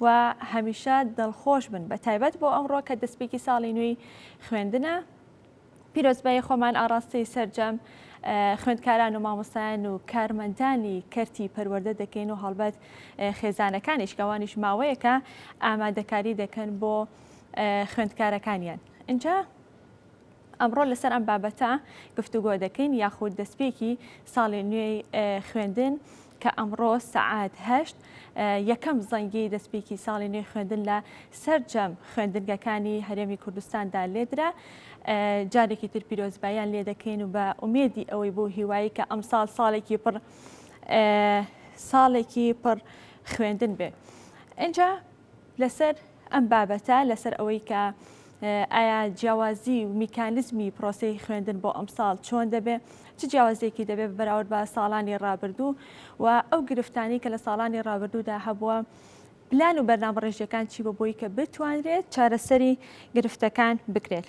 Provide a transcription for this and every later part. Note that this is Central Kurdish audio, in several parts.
و هەمیشە دڵخۆش بن بە تایبەت بۆ ئەمڕۆ کە دەستپێکی ساڵی نوێی خوێندنە پیرۆزبایی خۆمان ئاڕاستەی سەرجەم خوێندکاران و مامۆستایان و کارمەندانی کەرتی پەروەردە دەکەین و هەڵبەت خێزانەکانیش کەوانیش ماوەیەکە ئامادەکاری دەکەن بۆ خوێندکارەکانیان اینجا ئەمڕۆ لەسەر ئەم بابەتە گفتوگۆ دەکەین یاخود دەستپێکی ساڵی نوێی خوێندن کە ئەمڕۆ سەعات هەشت یەکەم زەنگی دەستپێکی ساڵی نوێی خوێندن لە سەرجەم خوێندنگەکانی هەرێمی کوردستاندا لێدرا جارێکی تر پیرۆزبایان لێ دەکەین و بە ئومێدی ئەوەی بۆ هیوایی کە ئەمساڵ ساڵێکی پڕ ساڵێکی پڕ خوێندن بێ. ئەجا لەسەر ئەم بابەتە، لەسەر ئەوەی کە ئایا جیاوازی و میکانزمی پرۆسەی خوێندن بۆ ئەمساڵ چۆن دەبێ، چ جیاوازیەکی دەبێ بە بەراورد بە ساڵانی ڕابردوو و ئەو گرفتانەی کە لە ساڵانی ڕابردوودا هەبووە، پلان و بەرنامەڕێژیەکان چی بووە بۆی کە بتوانرێت چارەسەری گرفتەکان بکرێت؟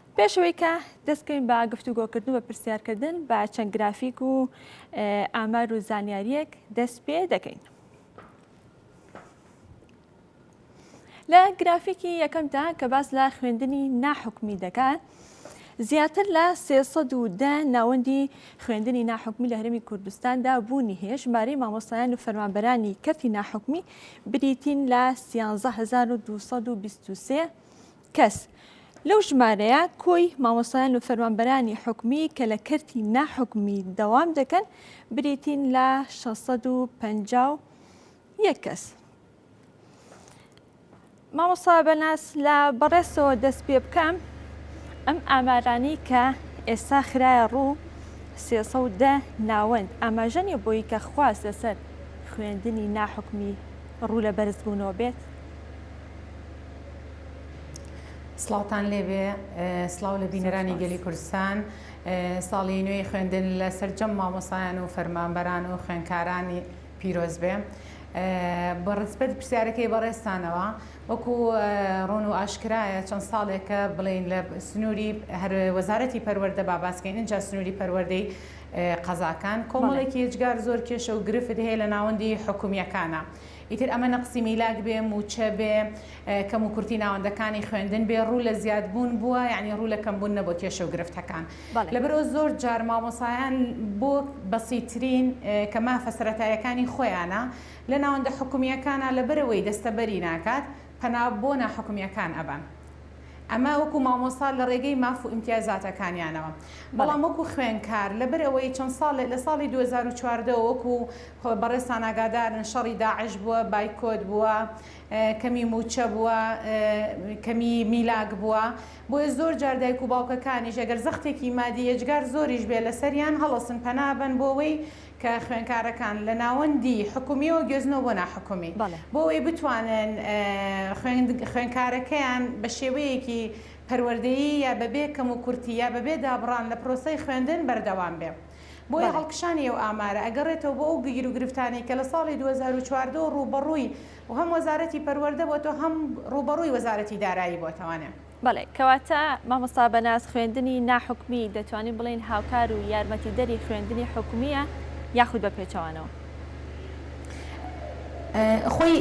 پێش ئەوەی کە دەست بکەین بە گفتوگۆکردن و بە پرسیارکردن بە چەند گرافیک و ئامار و زانیاریەک دەست پێ دەکەین. لە گرافیکی یەکەمدا کە باس لە خوێندنی ناحکمی دەکات زیاتر لە 310 ناوەندی خوێندنی ناحکمی لە هەرمی کوردستاندا بوونی هەیە ژمارەی مامۆستایان و فەرمانبەرانی کەرتی ناحکمی بریتین لە 13223 کەس، لەو ژمارەیە کۆی مامۆستایان و فەرمانبەرانی حکومی کە لە کەرتی ناحکومی دەوام دەکەن بریتین لە 651 کەس. مامۆستا بەناس لە بەڕێزەوە دەست پێ بکەم ئەم ئامارانی کە ئێستا خراە ڕوو سێسە و دە ناوەند ئاماژەنی بۆی کە خواست لەسەر خوێندنی ناحکمی ڕوو لە بەرزبوونەوە بێت سڵاوتان لێبێ سڵاو لە بینەرانی گەلی کوردستان ساڵی نوێی خوێندن لە سەرجەم مامۆسایان و فەرمانبەران و خوێنکارانی پیرۆز بێ بە ڕسپەت پرسیارەکەی بەڕێستانەوە وەکو ڕۆن و ئاشکرایە چەند ساڵێکە بڵین لە سنووری هەر وەزارەتی پەروەەردە باباسکەین اینجا سنووری پەروەەردەی قەزاکان کۆمەڵێکی هێجگار زۆر کێشە و گرفت هەیە لە ناوەندی حکومیەکانە ئیتر ئەمە نەقسی میلاک بێ، مووچە بێ، کەم و کورتی ناوەندەکانی خوێندن بێ، ڕوو لە زیاد بوون بووە، یەعنی ڕوو لە کەم بوون نەبووە کێشە و گرفتەکان. لەبەرئەوە زۆر جار مامۆسایان بۆ بەسیترین، کە مافە سەرەتاییەکانی خۆیانە، لە ناوەندە حکومییەکانا لەبەرئەوەی دەستەبەری ناکات، پەنا بۆ ناحکومییەکان ئەبەن. ئەمە وەکوو مامۆستا لە ڕێگەی ماف و ئیمتیازاتەکانیانەوە. بەڵام وەکوو خوێنکار لەبەرئەوەی چەند ساڵێ، لە ساڵی دوو هەزار و چواردە وە وەکوو، بەڕێزتان ئاگادارن شەڕی داعش بووە، بایکۆت بووە، کەمی مووچە بووە، کەمی میلاک بووە، بۆیە زۆر جار دایک و باوکەکانیش ئەگەر زەختێکی مادی یەجگار زۆریش بێت لەسەریان هەڵەسن پەنا ئەبەن بۆوەی کە خوێنکارەکان لە ناوەندی حکومیەوە گوێزنەوە بۆ ناحکومی بۆوەی بتوانن خوێنکارەکەیان بە شێوەیەکی پەروەردەیی یا بەبێ کەموکورتی یا بەبێ دابڕان لە پرۆسەی خوێندن بەردەوام بێ. بۆیە بەڵێ. هەڵکشانی ئەو ئامارە ئەگەڕێتەوە بۆ ئەو گیروگرفتانەی کە لە ساڵی دوو هەزار و چواردە و ڕووبەڕووی هەم وەزارەتی پەروەردە بۆتەوە هەم ڕووبەڕووی وەزارەتی دارایی بۆتەوانێ. بەڵێ، کەواتە مامۆستا بەناز خوێندنی ناحکومی دەتوانین بڵێین هاوکار و یارمەتیدەری خوێندنی حکومییە یاخود بە پێچەوانەوە؟ خۆی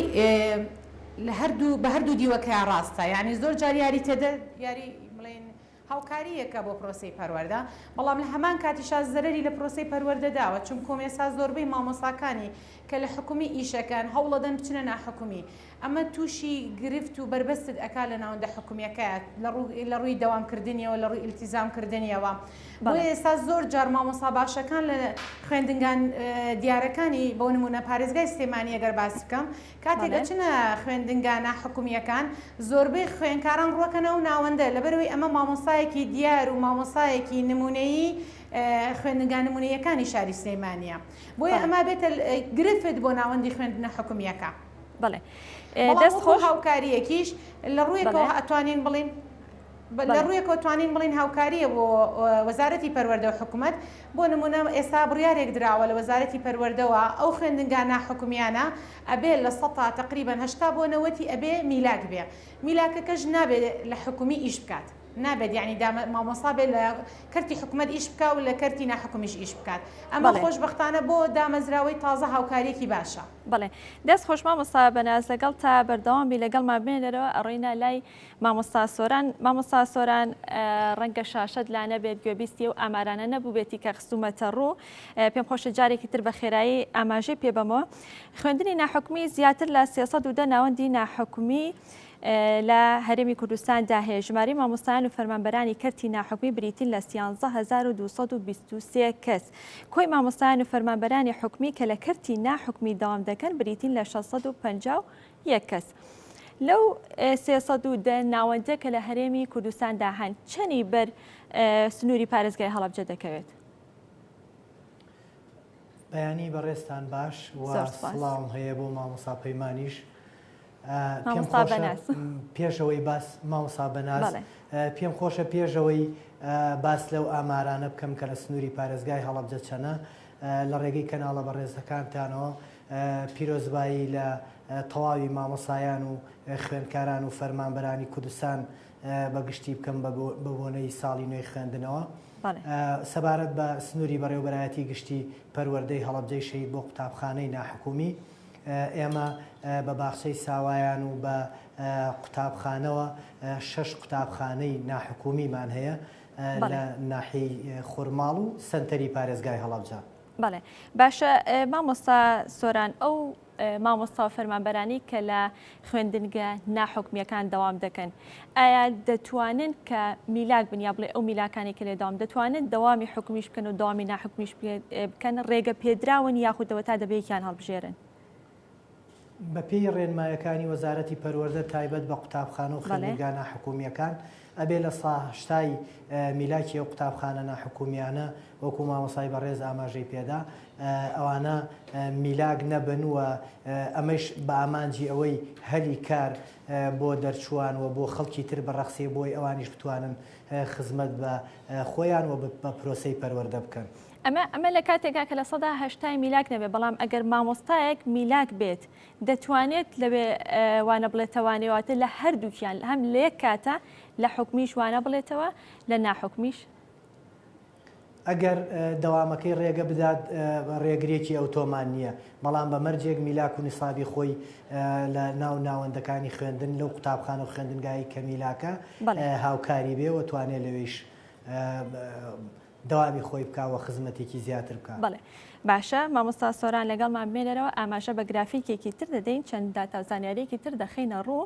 لە هەردوو بە هەردوو دیوەکەیا ڕاستە یانی زۆر جار یاری تێدە یاری بڵێین هاوکارییەکە بۆ پرۆسەی پەروەردە، بەڵام لە هەمان کاتیشا زەرەری لە پرۆسەی پەروەردە داوە، چونکۆم ئێستا زۆربەی مامۆستاکانی کە لە حکومی ئیشەکەن هەوڵەدەن بچنە ناحکومی، ئەمە تووشی گرفت و بەربەستت ئەکا لە ناوەندە حکومیەکە لە ڕووی دەوام کردنیەوە لە ڕووی ئیلتیزام کردنیەوە، بۆیە ئێستا زۆر جار مامۆستا باشەکان لە خوێندنگا دیارەکانی بۆ نموونە پارێزگای سلێمانی ئەگەر باس بکەم کاتێک دەچنە خوێندنگا نا حکومیەکان زۆربەی خوێنکاران ڕوەکەن ئەو ناوەندە لەبەرئەوەی ئەمە مامۆستایەکی دیار و مامۆستایەکی نمونەیی خوێندنگا نمونەییەکانی شاری سلێمانیە بۆیە ئەمە بێتە گرفت بۆ ناوەندی خوێندنە حکومیەکە بەڵێ دەست خۆش هاوکاریەکیش لە ڕویەکەوە ئەتوانین بڵین لە ڕوویەکەوە توانین بڵێین هاوکارییە بۆ وەزارەتی پەروەردە و حکومەت، بۆ نموونە ئێستا بڕیارێک دراوە لە وەزارەتی پەروەردەوە ئەو خوێندنگا ناحکومییانە ئەبێ لە سەتا تەقریبەن هەشتا بۆ نەوەتی ئەبێ میلاک بێ، میلاکەکەش نابێ لە حکومی ئیش بکات، نابێت یانی مامۆستا بێ لە کەرتی حکومەت ئیش بکا و لە کەرتی ناحکومیش ئیش بکات، ئەمە خۆشبەختانە بۆ دامەزراوەی تازە هاوکارییەکی باشە. بەڵێ دەست خۆش مامۆستا بەناز لەگەڵ تا بەردەوام بی لەگەڵمان بمێنەرەوە ئەڕۆینە لای مامۆستا سۆران مامۆستا سۆران ڕەنگە شاشەت لا نەبێت گوێبیستی و ئامارانە نەبووبێتی کە خستومەتە ڕوو پێم خۆشە جارێکی تر بە خێرایی ئاماژەی پێ بەمەوە خوێندنی ناحکومی زیاتر لە 310 ناوەندی ناحکومی لە هەرێمی کوردستاندا هەیە ژماری مامۆستایان و فەرمانبەرانی کەرتی ناحکومی بریتین لە 11223 کەس کۆی مامۆستایان و فەرمانبەرانی حکومی کە لە کەرتی ناحکومی داوام دەکەن بریتین لە 650 یەک کەس لەو سێ سەد و دە ناوەندە کە لە هەرێمی کوردستاندا هەن چەنی بەر سنووری پارێزگای هەڵەبجە دەکەوێت؟ بەیانی بەڕێستان باش سڵاوم هەیە بۆ مامۆسا پەیمانیش پێشەوەی باس مامۆسا بەناز پێم خۆشە پێشەوەی باس لەو ئامارانە بکەم کە لە سنووری پارێزگای هەڵبجە چەنە لە ڕێگەی کەناڵە بەڕێزەکانتانەوە پیرۆزبایی لە تەواوی مامۆسایان و خوێندکاران و فەرمانبەرانی کوردستان بە گشتی بکەم بە بۆنەی ساڵی نوێی خوێندنەوە. سەبارەت بە سنووری بەڕێوبەرایەتی گشتی پەروەردەی هەڵەبجەی شەهید بۆ قوتابخانەی ناحکومی ئێمە بە باخچەی ساوایان و بە قوتابخانەوە شەش قوتابخانەی ناحکومیمان هەیە لە ناحیەی خورماڵ و سەنتەری پارێزگای هەڵەبجە. بەڵێ باشە مامۆستا سۆران ئەو مامۆستا و فەرمانبەرانی کە لە خوێندنگە ناحکمیەکان دەوام دەکەن ئایا دەتوانن کە میلاک بن یا بڵێ ئەو میلاکانی کە لێ داوام دەتوانن دەوامی حکومیش بکەن و داوامی ناحکمیش بکەن ڕێگە پێدراون یاخودەوە تا دەبێکیان هەڵبژێرن بەپێی ڕێنمایەکانی وەزارەتی پەروەردە تایبەت بە قوتابخانە و خوێندنگا ناحکومییەکان ئەبێ لە سا شتای میلاکی ئەو قوتابخانە ناحکومییانە وەکو مامۆسای بەڕێز ئاماژەی پێدا ئەوانە میلاک نەبن و ئەمەش بە ئامانجی ئەوەی هەلی کار بۆ دەرچووان و بۆ خەڵکی تر بەڕەخسێ بۆی ئەوانیش بتوانن خزمەت بە خۆیان و بە پرۆسی پەروەردە بکەن. ئەمە ئەمە لە کاتێکا کە لە سەدا هەشتای میلاک نەبێت بەڵام ئەگەر مامۆستایەک میلاک بێت دەتوانێت لەوێ وانە بڵێتەوانێواتە لە هەردووکیان هەم لە یەک کاتە لە حکومیش وانە بڵێتەوە لە ناحکمیش ئەگەر دەوامەکەی ڕێگە بدات ڕێگرێکی ئەوتۆمان نییە بەڵام بە مەرجێک میلاک و نیسابی خۆی لە ناو ناوەندەکانی خوێندن لەو قوتابخان و خوێندنگایی کە میلاکە هاوکاری بێ و توانێت لەوێش دەوامی خۆی بکا وە خزمەتێکی زیاتر بکا. بەڵێ باشە مامۆستا سۆران لەگەڵمان بمێ لەرەوە ئاماژە بە گرافیکێکی تر دەدەین چەند داتا و زانیاریەکی تر دەخەینە ڕوو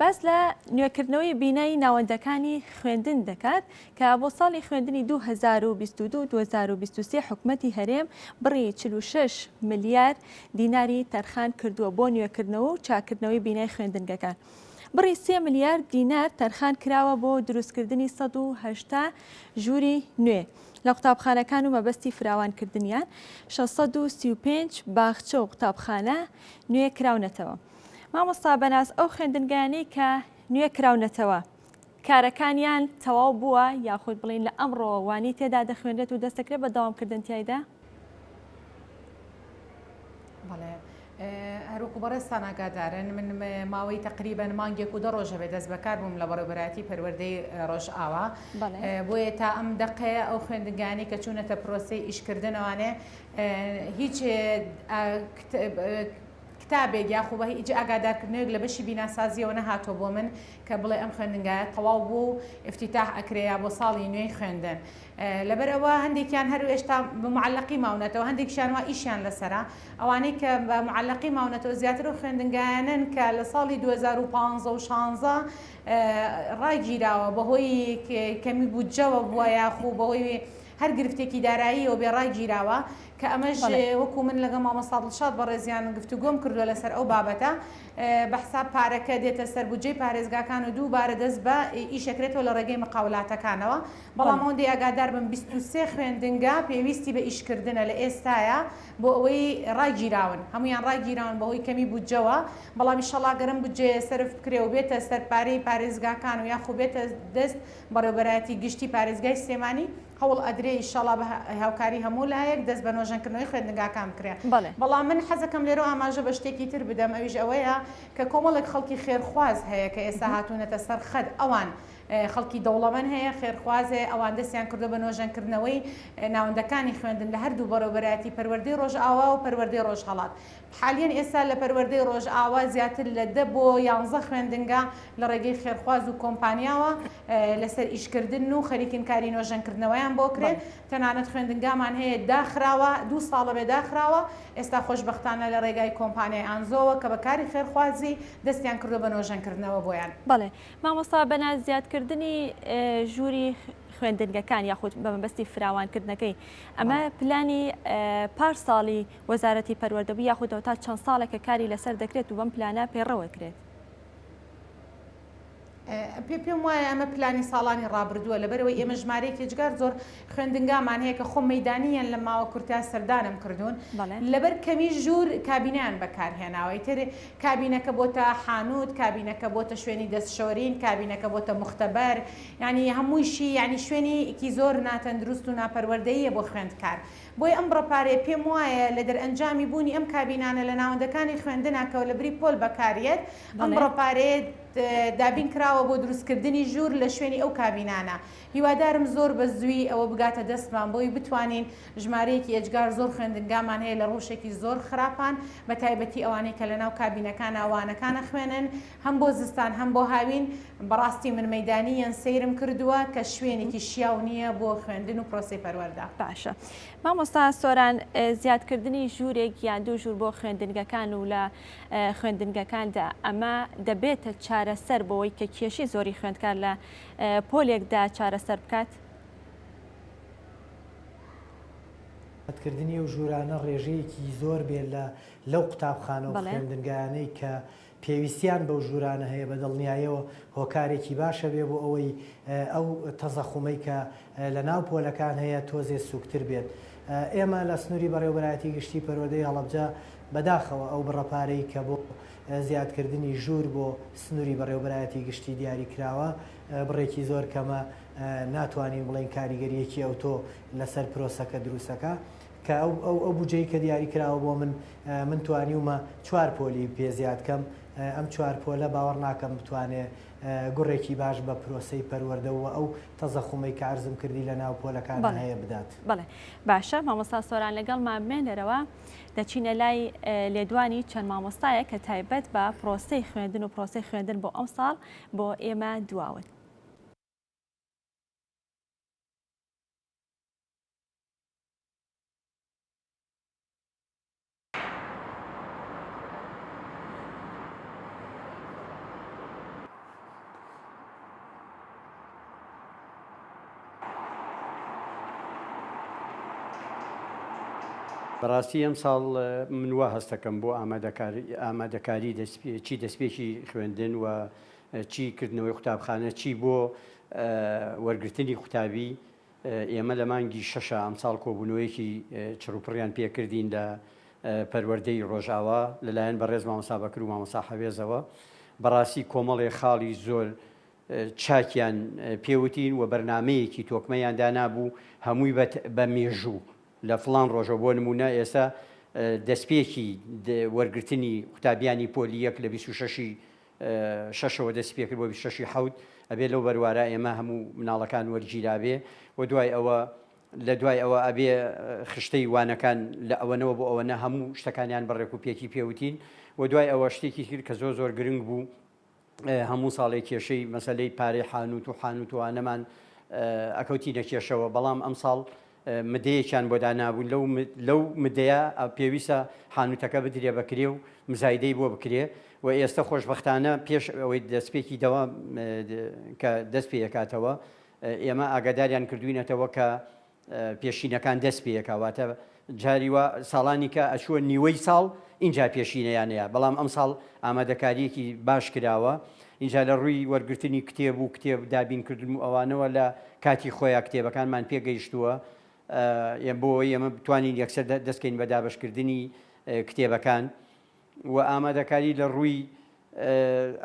باس لە نوێکردنەوەی بینای ناوەندەکانی خوێندن دەکات کە بۆ ساڵی خوێندنی 2022 2023 حکومەتی هەرێم بڕی 46 ملیار دیناری تەرخان کردووە بۆ نوێکردنەوە و چاکردنەوەی بینای خوێندنگەکان بڕی سێ ملیار دینار تەرخان کراوە بۆ دروستکردنی سەد و هەشتا ژووری نوێ لە قوتابخانەکان و مەبەستی فراوانکردنیان شەش سەد و سی و پێنج باخچە و قوتابخانە نوێ کراونەتەوە مامۆستا بەناز ئەو خوێندنگانەی کە نوێ کراونەتەوە کارەکانیان تەواو بووە یاخود بڵێین لە ئەمڕۆوە وانەی تێدا دەخوێنرێت و دەست دەکرێت بە دەوامکردن تیایدا؟ بەڵێ هەروەکو بەڕێزتان ئاگادارن من ماوەی تقریبەن مانگێک و دە ڕۆژە بێ دەست بەکار بووم لە بەڕێبەراتی پەروەردەی ڕۆژئاوا بۆیە تا ئەم دقەیە ئەو خوێندگانی کە چوونەتە پرۆسی ئیشکردنەوانێ هیچ کتابێک یاخو بە هیچ ئاگادارکردنەوەیەک لە بەشی بیناسازیەوە نەهاتوە بۆ من کە بڵێ ئەم خوێندنگایە تەواو بووە و افتتاح ئەکرێ یا بۆ ساڵی نوێی خوێندن لەبەر ئەوە هەندێکیان هەر ئێشتا بە معلقی ماونەتەوە هەندێکشیان وا ئیشیان لەسەرە ئەوانەی کە بە معلقی ماونەتەوە زیاتر و خوێندنگایانن کە لە ساڵی 2015 و 16 ڕاگیراوە بەهۆی کەمی بودجەوە بووە یاخو بەهۆی هەر گرفتێکی داراییەوە بێ ڕاگیراوە کە ئەمەش بەڵێ. وەکو من لەگەڵ مامۆستا دڵشاد بەڕێزیان گفتوگۆم کردوە لەسەر ئەو بابەتە بە حساب پارەکە دێتە سەر بودجەی پارێزگاکان و دوو بارە دەست بە ئیشەکرێتەوە لە ڕێگەی مقاولاتەکانەوە بەڵام بەڵێ. ئەوەندەی ئاگادار بم بیست و سێ خوێندنگا پێویستی بە ئیشکردنە لە ئێستایا بۆ ئەوەی ڕاگیراون هەموویان ڕاگیراون بە هۆی کەمی بودجەوە بەڵام ئیشەڵا گەر ئەم بودجەیە سەرف بکرێ و بێتە سەر پارەی پارێزگاکان و یاخو بێتە دەست بەڕێوبەرایەتی گشتی پارێزگای سلێمانی هەوڵ ئەدرێ ئیشەڵا بە هاوکاری هەموو لایەک دەست بە نۆژەن کردنەوەی خوێندنگاکان بکرێ بەڵام من حەزەکەم لێرەوە ئاماژە بە شتێکی تر بدەم ئەویش ئەوەیە کە کۆمەڵێک خەڵکی خێرخواز هەیە کە ئێستا هاتوونەتە سەر خەت ئەوان خەڵکی دەوڵەمەن هەیە خێرخواز هەیە ئەوان دەستیان کردو بە نۆژەن کردنەوەی ناوەندەکانی خوێندن لە هەردوو بەڕێوبەرایەتی پەروەردەی ڕۆژئاوا و پەروەردەی ڕۆژهەڵات حالیەن ئێستا لە پەروەردەی ڕۆژئاوا زیاتر لە دە بۆ یانزە خوێندنگا لە ڕێگەی خێرخواز و کۆمپانیاوە لەسەر ئیشکردنن و خەریکین کاری نۆژەنکردنەوەیان بۆ کرێ، تەنانەت خوێندنگامان هەیە داخراوە دوو ساڵە بێ داخراوە، ئێستا خۆشبەختانە لە ڕێگای کۆمپانیای ئانزۆوە کە بە کاری خێرخوازی دەستیان کردوە بە نۆژەنکردنەوە بۆیان. بەڵێ مامۆستا بەنا زیادکردنی ژووری خوێندنگەکان یاخود بە مەبەستی فراوانکردنەکەی ئەمە پلانی پار ساڵی. وەزارەتی پەروەردە بوو یاخودەوە تا چەند ساڵێکە کاری لەسەر دەکرێت و بەم پلانە پەیڕەوەکرێت؟ پێ پێم وایە ئەمە پلانی ساڵانی ڕابردووە لەبەرەوەی ئێمە ژمارەیەکی ئێجگار زۆر خوێندنگامان هەیە کە خۆ مەیدانیان لە ماوە کورتە سەردانم کردوون لەبەر کەمی ژوور کابینیان بەکارهێناوەی تر کابینەکە بۆتە حانوت کابینەکە بۆتە شوێنی دەستشۆرین کابینەکە بۆتە مختبەر ینی هەموویشی ینی شوێنیکی زۆر ناتەندروست و ناپەروەردەیە بۆ خوێندکار بۆیە ئەم بڕە پارەیە پێم وایە لە دەرئەنجامی بوونی ئەم کابینانە لە ناوەندەکانی خوێندنە کە لە بری پۆل بەکار یەت ئەم بڕە پارەیە دابین کراوە بۆ دروست کردنی ژوور لە شوێنی ئەو کابینانە هیوادارم زۆر بە زووی ئەوە بگاتە دەستمان بۆی بتوانین ژمارەیەکی ئێجگار زۆر خوێندنگامان هەیە لە ڕووشێکی زۆر خراپان بە تایبەتی ئەوانەی کە لە ناو کابینەکانە وانەکان ئەخوێنن هەم بۆ زستان هەم بۆ هاوین بەڕاستی من مەیدانی یەن سەیرم کردووە کە شوێنێکی شیاو نییە بۆ خوێندن و پرۆسەی پەروەردە. باشە مامۆستا سۆران زیاد کردنی ژوورێک یان دوو ژوور بۆ خوێندنگەکان و لە خوێندنگەکاندا ئەمە دەبێتە چارەسەر بۆوەی کە کێشی زۆری خوێندکار لە پۆلێکدا چارەسەر بکات؟ زیاد کردنی ئەو ژوورانە ڕێژەیەکی زۆر بێت لە لەو قوتابخانە و خوێندنگایانەی کە پێویستیان بەو ژوورانە هەیە، بە دڵنیایەوە هۆکارێکی باشە بێ بۆ ئەوەی ئەو تەزەخومەی کە لە ناو پۆلەکان هەیە تۆزێ سووکتر بێت. ئێمە لە سنووری بەڕێوەبەرایەتی گشتی پەروەردەی هەڵەبجە بە داخەوە ئەو بڕە پارەی کە بۆ زیادکردنی ژوور بۆ سنووری بەڕێوەبەرایەتی گشتی دیاری کراوە بڕێکی زۆر کەمە ناتوانین بڵێین کاریگەرییەکی ئەوتۆ لە سەر پرۆسەکە دروستەکا. کە ئەو ئەو ئەو بودجەی کە دیاری کراوە بۆ من من توانیومە چوار پۆلی پێ زیاد کەم ئەم چوار پۆلە باوەڕ ناکەم بتوانێ گوڕێکی باش بە پرۆسەی پەروەردە و ئەو تەزەخومەی کە عەرزم کردی لە ناو پۆلەکان بەڵێ هەیە بدات. بەڵێ باشە مامۆستا سۆران لەگەڵمان بمێنەرەوە دەچینە لای لێدوانی چەند مامۆستایە کە تایبەت بە پرۆسەی خوێندن و پرۆسەی خوێندن بۆ ئەم ساڵ بۆ ئێمە دواون. بەڕاستی ئەم ساڵ من وا هەستەکەم بۆ ئامادەکاری چی دەستپێکی خوێندن و چی کردنەوەی قوتابخانە چی بۆ وەرگرتنی قوتابی ئێمە لە مانگی شەشا ئەمساڵ کۆبوونەوەیەکی چڕوپڕیان پێکردین لە پەروەردەی ڕۆژئاوا لەلایەن بەڕێز مامۆستا بەکر و مامۆستا حەوێزەوە بەڕاستی کۆمەڵێ خاڵی زۆر چاکیان پێوتین و بەرنمەیەکی تۆکمەیان دانابوو هەمووی بە مێژوو لە فلان ڕۆژە بۆ نمونە ئێستا دەستپێکی وەرگرتنی قوتابیانی پۆلی یەک لە 26 شەشەوە دەستی پێکرد بۆ بیست و شەش ی حەوت ئەبێ لەو بەروارە ئێمە هەموو مناڵەکان وەرگیرابێ و دوای ئەوە لە دوای ئەوە ئەبێ خشتەی وانەکان لە ئەوەنەوە بۆ ئەوە نە هەموو شتەکانیان بەڕێک و پێکی پێوتین و دوای ئەوە شتێکی تر کە زۆر زۆر گرنگ بوو هەموو ساڵێک کێشەی مەسلەی پارەی حانوت و حانوتوانەمان ئەکەوتی نەکێشەوە بەڵام ئەم ساڵ مدەیەکیان بۆ دانابوو، لەو لەو مدەیە پێویستە حانوتەکە بدرێ بە کرێ و مزایدەی بۆ بکرێ و ئێستە خۆشبەختانە پێش ئەوەی دەستپێکی دەوام کە دەست پێ ئەکاتەوە ئێمە ئاگاداریان کردووینەتەوە کە پێشینەکان دەست پێ ئەکا واتە جاری وا ساڵانی کە ئەچووە نیوەی ساڵ ئینجا پێشینەیان هەیە بەڵام ئەمساڵ ئامادەکارییەکی باش کراوە ئینجا لە ڕووی وەرگرتنی کتێب و کتێب دابین کردن و ئەوانەوە لە کاتی خۆیا کتێبەکانمان پێ گەیشتووە یە بۆ ئەوەی ئێمە بتوانین یەکسەر دەست کەین بە دابەش کردنی کتێبەکان و ئامادەکاری لە ڕووی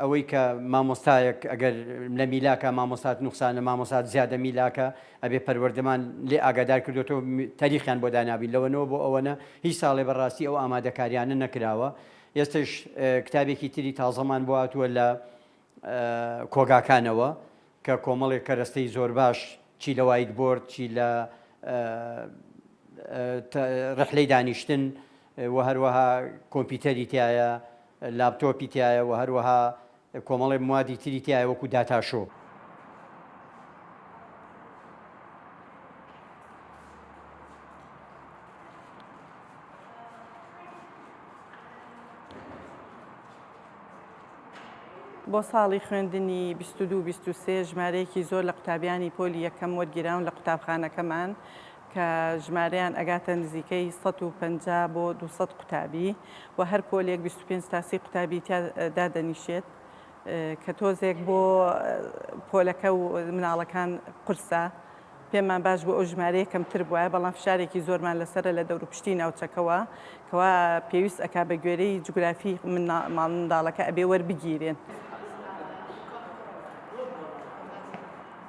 ئەوەی کە مامۆستایەک ئەگەر لە میلاکە مامۆسات نوخسانە مامۆسات زیادە میلاکە ئەبێ پەروەردەمان لێ ئاگادار کردوەوە تاریخیان بۆ دانابین لەوەنەوە بۆ ئەوەنە هیچ ساڵێ بەڕاستی ئەو ئامادەکاریانە نەکراوە ئێستەش کتابێکی تری تازەمان بۆ هاتووە لە کۆگاکانەوە کە کۆمەڵێک کەرەستەی زۆر باش چی لە وایت بۆرد چی لە ڕحلەی دانیشتن و هەروەها کۆمپیوتەری تایە لاپتۆپی تایە و هەروەها کۆمەڵێ موادی تری تیایە وەکو داتاشۆ. بۆ ساڵی خوێندنی بیست و دوو بیست و سێ ژمارەیەکی زۆر لە قوتابیانی پۆلی یەکەم وەرگیراون لە قوتابخانەکەمان کە ژمارەیان ئەگاتە نزیکەی سەد و پەنجا بۆ دوو سەد قوتابی و هەر پۆلێک بیست و پێنج تا سی قوتابی تیا دادەنیشێت کە تۆزێک بۆ پۆلەکە و مناڵەکان قورسە پێمان باش بۆ ئەو ژمارەیە کەمتر بواە بەڵام فشارێکی زۆرمان لەسرە لە دەوروپشتی ناوچەکەەوە کەوا پێویست ئەک بە گوێرەی جوگرافی ماڵمنداڵەکە ئەبێ وەربگیرێن.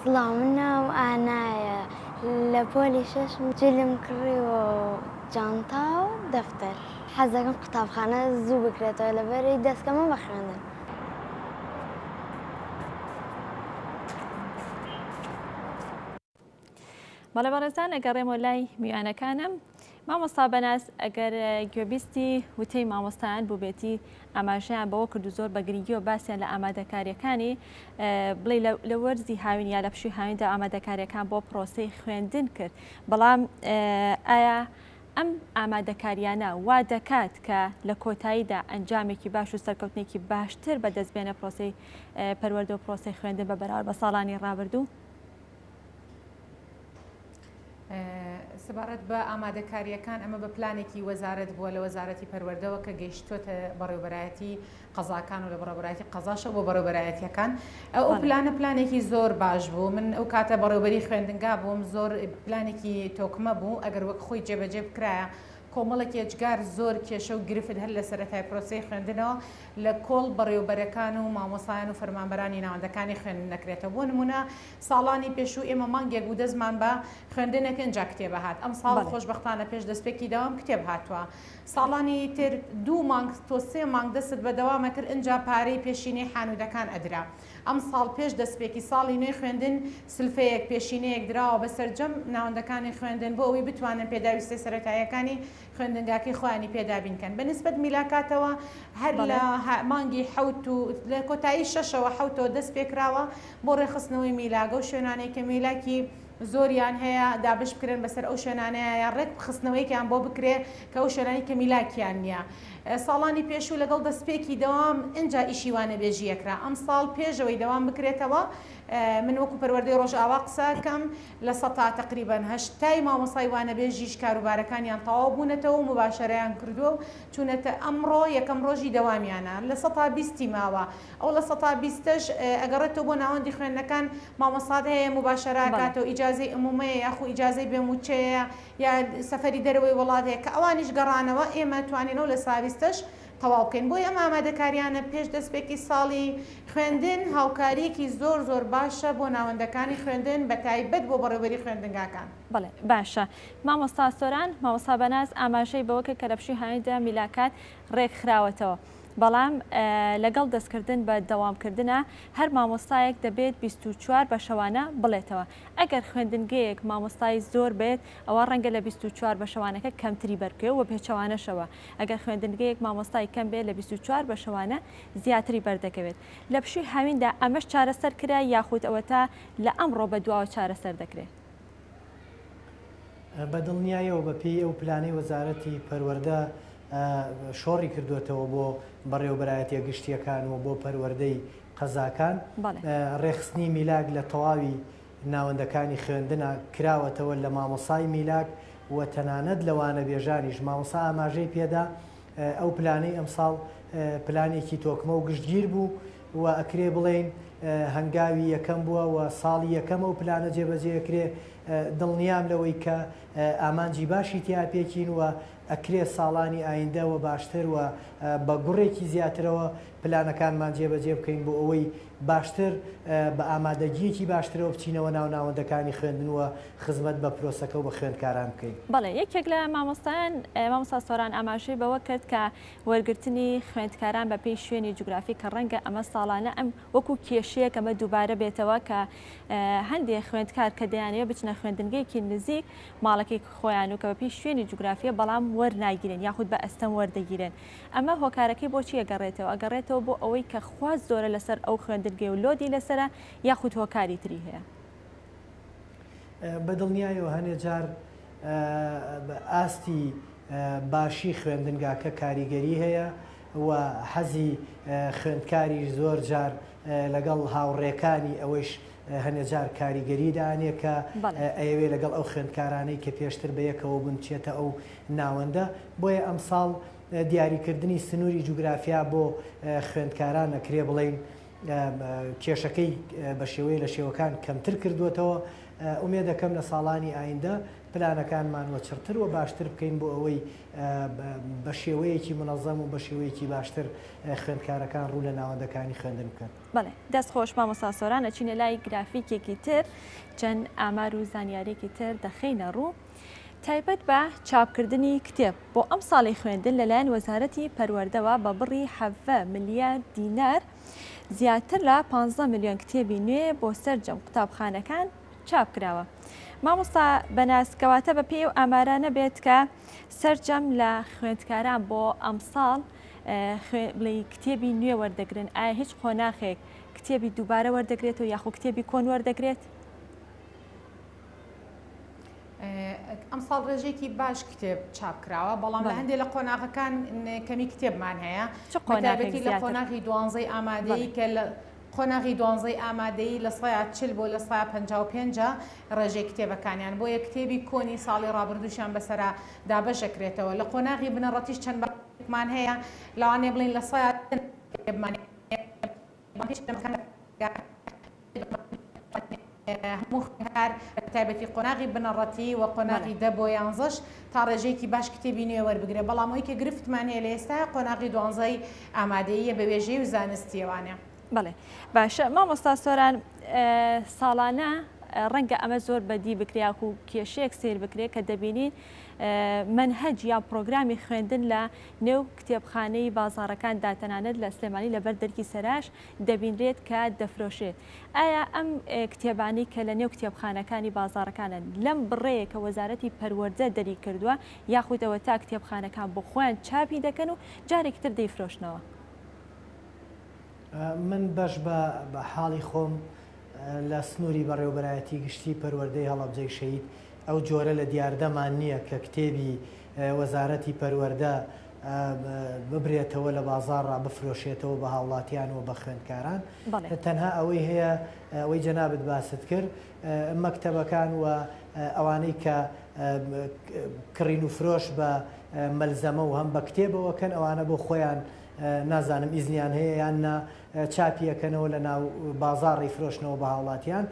سڵاو من ناوم ئانایە لە پۆلی شەشم جلم کڕیوە و جانتا و دەفتەر حەزدەکەم قوتابخانە زوو بکرێتەوە لەبەرەی دەستکەمە بە خوێندن. بەڵێ بەڕێزان ئەگەڕێمەوە لای میوانەکانم. مامۆستا بەناز ئەگەر گوێبیستی وتەی مامۆستایان بووبێتی ئاماژەیان بەوە کردو زۆر بە گرنگیەوە باسییان لە ئامادەکاریەکانی بڵێ لە وەرزی هاوین یا لە پشوی هاویندا ئامادەکاریەکان بۆ پرۆسەی خوێندن کرد بەڵام ئایا ئەم ئامادەکاریانە وا دەکات کە لە کۆتاییدا ئەنجامێکی باش و سەرکەوتنێکی باشتر بە دەستبێنە پرۆسی پەروەردە و پرۆسی خوێندن بە بەراورد بە ساڵانی ڕابردوو سەبارەت بە ئامادەکارییەکان، ئەمە بە پلانێکی وەزارەت بووە لە وەزارەتی پەروەردەوە کە گەیشتووەتە بەڕێوەبەرایەتی قەزاکان و لە بەڕێوەبەرایەتی قەزاشەوە بۆ بەڕێوەبەرایەتییەکان. ئەو بەڵێ. پلانە پلانێکی زۆر باش بوو. من ئەو کاتە بەڕێوەبەری خوێندنگا بووم، زۆر پلانێکی تۆکمە بوو، ئەگەر وەک خۆی جێبەجێ بکرایە، کۆمەڵێک ئێجگار، زۆر کێشە و گرفت هەر لە سەرەتای پرۆسەی خوێندنەوە لە کۆڵ بەڕێوەبەرەکان و مامۆستایان و فەرمانبەرانی ناوەندەکانی خوێندن دەکرێتەوە. بۆ نموونە ساڵانی پێشوو ئێمە مانگێک بوو دەستمان بە خوێندن ئەکەین جا کتێبە هات ئەمساڵ بەڵێ. خۆشبەختانە پێش دەستپێکی دەوام کتێب هاتووە ساڵانی تر دوو مانگ تۆ سێ مانگ دەستت بە دەوام ئەکرد ئینجا پارەی پێشینەی حانوودەکان ئەدرا ئەمساڵ پێش دەستپێکی ساڵی نوێی خوێندن سلفەیەک پێشینەیەک دراوە بە سەرجەم ناوەندەکانی خوێندن بۆ ئەوەی بتوانن پێداویستیە سەرەتاییەکانی خوێندنگاکەی خۆیانی پێ دابین کەن بە نسبەت میلاکاتەوە هەر لە مانگی حەوت و لە کۆتایی شەشەوە حەوتەوە دەست پێکراوە بۆ ڕێخستنەوەی میلاگە و شوێنانەی کە میلاکی زۆریان هەیە دابش بکرێن بەسەر ئەو شوێنانەیە یان ڕێک خستنەوەیەکیان بۆ بکرێ کە ئەو شوێنانی کە میلاکیان نییە ساڵانی پێشوو لەگەڵ دەستپێکی دەوام ئینجا ئیشی وانەبێژیەکرا ئەم ساڵ پێشەوەی دەوام بکرێتەوە من وەکو پەروەردەی ڕۆژئاوا قسەکەم لە سەتا تەقریبەن هەشتای مامۆستای وانەبێژیش کاروبارەکانیان تەواو بوونەتەوە و موباشەرەیان کردووە و چوونەتە ئەمڕۆ یەکەم ڕۆژی دەوامیانە لە سەتا بیستی ماوە ئەو لە سەتا بیستەش ئەگەڕێتەوە بۆ ناوەندی خوێندنەکان مامۆستات هەیە موباشەرە بەڵێ. ئەکاتەوە ئیجازەی ئمومەیە یاخو ئیجازەی بێ مووچەیە یا سەفەری دەرەوەی وڵات هەیە کە ئەوانیش گەڕانەوە ئێمە توانیەوە لە سابیستەش تەواو بکەین بۆیە ئەم ئامادەکاریانە پێش دەستپێکی ساڵی خوێندن هاوکاریەکی زۆر زۆر باشە بۆ ناوەندەکانی خوێندن بەتایبەت بۆ بەڕێوەبەری خوێندنگاکان. بەڵێ باشە مامۆستا سۆران. مامۆستا بەناز ئاماژەی بەوەکرد کە لە پشووی هاویندا میلاکات رێکخراوەتەوە بەڵام لەگەڵ دەستکردن بە دەوامکردنا هەر مامۆستایەک دەبێت بیست و چوار بەشەوانە بڵێتەوە ئەگەر خوێندنگەیەک مامۆستای زۆر بێت ئەوا رەنگە لە بیست و چوار بەشەوانەکە کەمتری بەربکەوێت وە پێچەوانەشەوە ئەگەر خوێندنگەیەک مامۆستای کەم بێت لە بیست و چوار بەشەوانە زیاتری بەردەکەوێت لە پشووی هاویندا، ئەمەش چارەسەر کرا یاخود ئەوەتا لە ئەمڕۆ بەدواوە چارەسەر دەکرێت؟ بە دڵنیایەوە بە پێی ئەو پلانەی وەزارەتی پەروەردە شۆڕی کردووەتەوە بۆ بەڕێوەبەرایەتیە گشتیەکان و بۆ پەروەردەی قەزاکان ڕێکخستنی میلاک لە تەواوی ناوەندەکانی خوێندنا کراوەتەوە لە مامۆسای میلاک و تەنانەت لە وانەبێژانیش، مامۆسا ئاماژەی پێدا ئەو پلانەی ئەمساڵ پلانێکی تۆکمە و گشتگیر بوو و ئەکرێ بڵێین هەنگاوی یەکەم بووە و ساڵی یەکەم ئەو پلانە جێبەجێ ئەکرێ، دڵنیام لەوەی کە ئامانجی باشی تیا پێکین و ئەکرێ ساڵانی ئایندە وە باشتر و بە گوڕێکی زیاترەوە پلانەکانمان جێبەجێ بکەین بۆ ئەوەی باشتر، بە ئامادەگییەکی باشترەوە بچینەوە ناو ناوەندەکانی خوێندن و خزمەت بە پرۆسەکە و بە خوێندکاران بکەین. بەڵێ، یەکێک لە مامۆستایان مامۆستا سۆران ئاماژەی بەوە کرد کە وەرگرتنی خوێندکاران بە پێی شوێنی جوگرافی کە ڕەنگە ئەمە ساڵانە ئەم وەکو کێشەیەک ئەمە دووبارە بێتەوە کە هەندێ خوێندکار کە دەیانەوێ بچنە خوێندنگەیەکی نزیک ماڵەکەی خۆیان و کە بە پێی شوێنی جوگرافیە بەڵام وەرناگیرێن یاخود بە ئەستەم وەردەگیرێن ئەمە هۆکارەکەی بۆچی ئەگەڕێتەوە؟ ئەگەڕێتەوە بۆ ئەوەی کە خواست زۆرە لەسەر ئەو خوێندنگەی و لۆدی لەسەرە یاخود هۆکاری تری هەیە؟ بە دڵنیایەوە هەنێ جار ئاستی باشی خوێندنگاکە کاریگەری هەیە و حەزی خوێندکاریش زۆر جار لەگەڵ هاوڕێکانی ئەوەیش هەنێ جار کاریگەری دانێ کە ئەیەوێ لەگەڵ ئەو خوێندکارانەی کە پێشتر بە یەکەوە بوون چێتە ئەو ناوەندە بۆیە ئەمساڵ دیاریکردنی سنووری جوگرافیا بۆ خوێندکاران نەکرێ بڵین کێشەکەی بە شێوەیە لە شێوەکان کەمتر کردووەتەوە ئومێ دەکەم لە ساڵانی ئایندە پلانەکانمان وە چڕتر وە باشتر بکەین بۆ ئەوەی بە شێوەیەکی منەزەم و بە شێوەیەکی باشتر خوێندکارەکان ڕوو لە ناوەندەکانی خوێندن بکەن. بەڵێ دەست خۆش مامۆستا سۆران ئەچینە لای گرافیکێکی تر چەند ئامار و زانیارێکی تر دەخەینە ڕوو تایبەت بە چاپکردنی کتێب بۆ ئەمساڵی خوێندن لەلایەن وەزارەتی پەروەردەوە بە بڕی حەڤە ملیار دینار زیاتر لە پانزە ملیۆن کتێبی نوێ بۆ سەرجەم قوتابخانەکان چاپ کراوە مامۆستا بەناز کەواتە بە پێی و ئامارا نەبێت کە سەرجەم لە خوێندکاران بۆ ئەمساڵ بڵێ کتێبی نوێ وەردەگرن ئایا هیچ قۆناخێک کتێبی دووبارە وەردەگرێت و یاخۆ کتێبی کۆن وەردەگرێت ئەم ساڵ ڕێژێکی باش کتێب چاپ کراوە بەڵام لە هەندێک لە قۆناغەکان کەمی کتێبمان هەیە چ قۆناغێکی لە قۆناغی دوانزەی ئامادەی کە لە قۆناغی دوانزەی ئامادەیی لە سەیا چل بۆ لە سەیا پەنجا و پێنج ە ڕێژەی کتێبەکانیان، بۆیە کتێبی کۆنی ساڵی ڕابردووشیان بەسەرا دابەش دەکرێتەوە. لە قۆناغی بنەڕەتیش چەند بابەتێکمان هەیە، لەوانەیە بڵێین لە سەیا دە نموونەی کتێبمان هەیە، بەڵام هیچ لەم بابەتانە کتێبەکان هەموو خوێندکار بە تایبەتی قۆناغی بنەڕەتی و قۆناغی دە بۆ یانزەش تا ڕێژەیەکی باش کتێبی نوێ وەربگرێ بەڵام ئەوەی کە گرفتمان هەیە لە ئێستا قۆناغی دوانزەی ئامادەییە بە وێژەی و زانستییەوانە. بەڵێ باشە مامۆستا سۆران ساڵانە ڕەنگە ئەمە زۆر بەدی بکرێک و کێشەیەک سیر بکرێت کە دەبینین منهج یا پرۆگرامی خوێندن لە نێو کتێبخانەی بازارەکان داتەنانەت لە سلێمانی لەبەر دەرکی سەراش دەبینرێت کە دەفرۆشرێت، ئایا ئەم کتێبانەی کە لە نێو کتێبخانەکانی بازاڕەکانن لەم بڕەیە کە وەزارەتی پەروەردە دەری کردووە یاخود ئەوەتا کتێبخانەکان بۆ خۆیان چاپی دەکەن و جارێکی تر دەیفرۆشنەوە؟ من بەش بە حاڵی خۆم لە سنووری بەڕێوەبەرایەتی گشتی پەروەردەی هەڵەبجەی شەهید ئەو جۆرە لە دیاردەمان نییە کە کتێبی وەزارەتی پەروەردە ببرێتەوە لە بازاڕا بفرۆشێتەوە بە هاوڵاتیان و بە خوێندکاران تەنها ئەوەی هەیە ئەوەی جەنابت باست کرد مەکتەبەکان و ئەوانەی کە کڕین و فرۆش بە مەلزەمە و هەم بە کتێبەوە کەن ئەوانە بۆ خۆیان نازانم ئیزنیان هەیە یان نا چاپیەکەنەوە لە ناو بازاڕی فرۆشنەوە بە هاوڵاتیان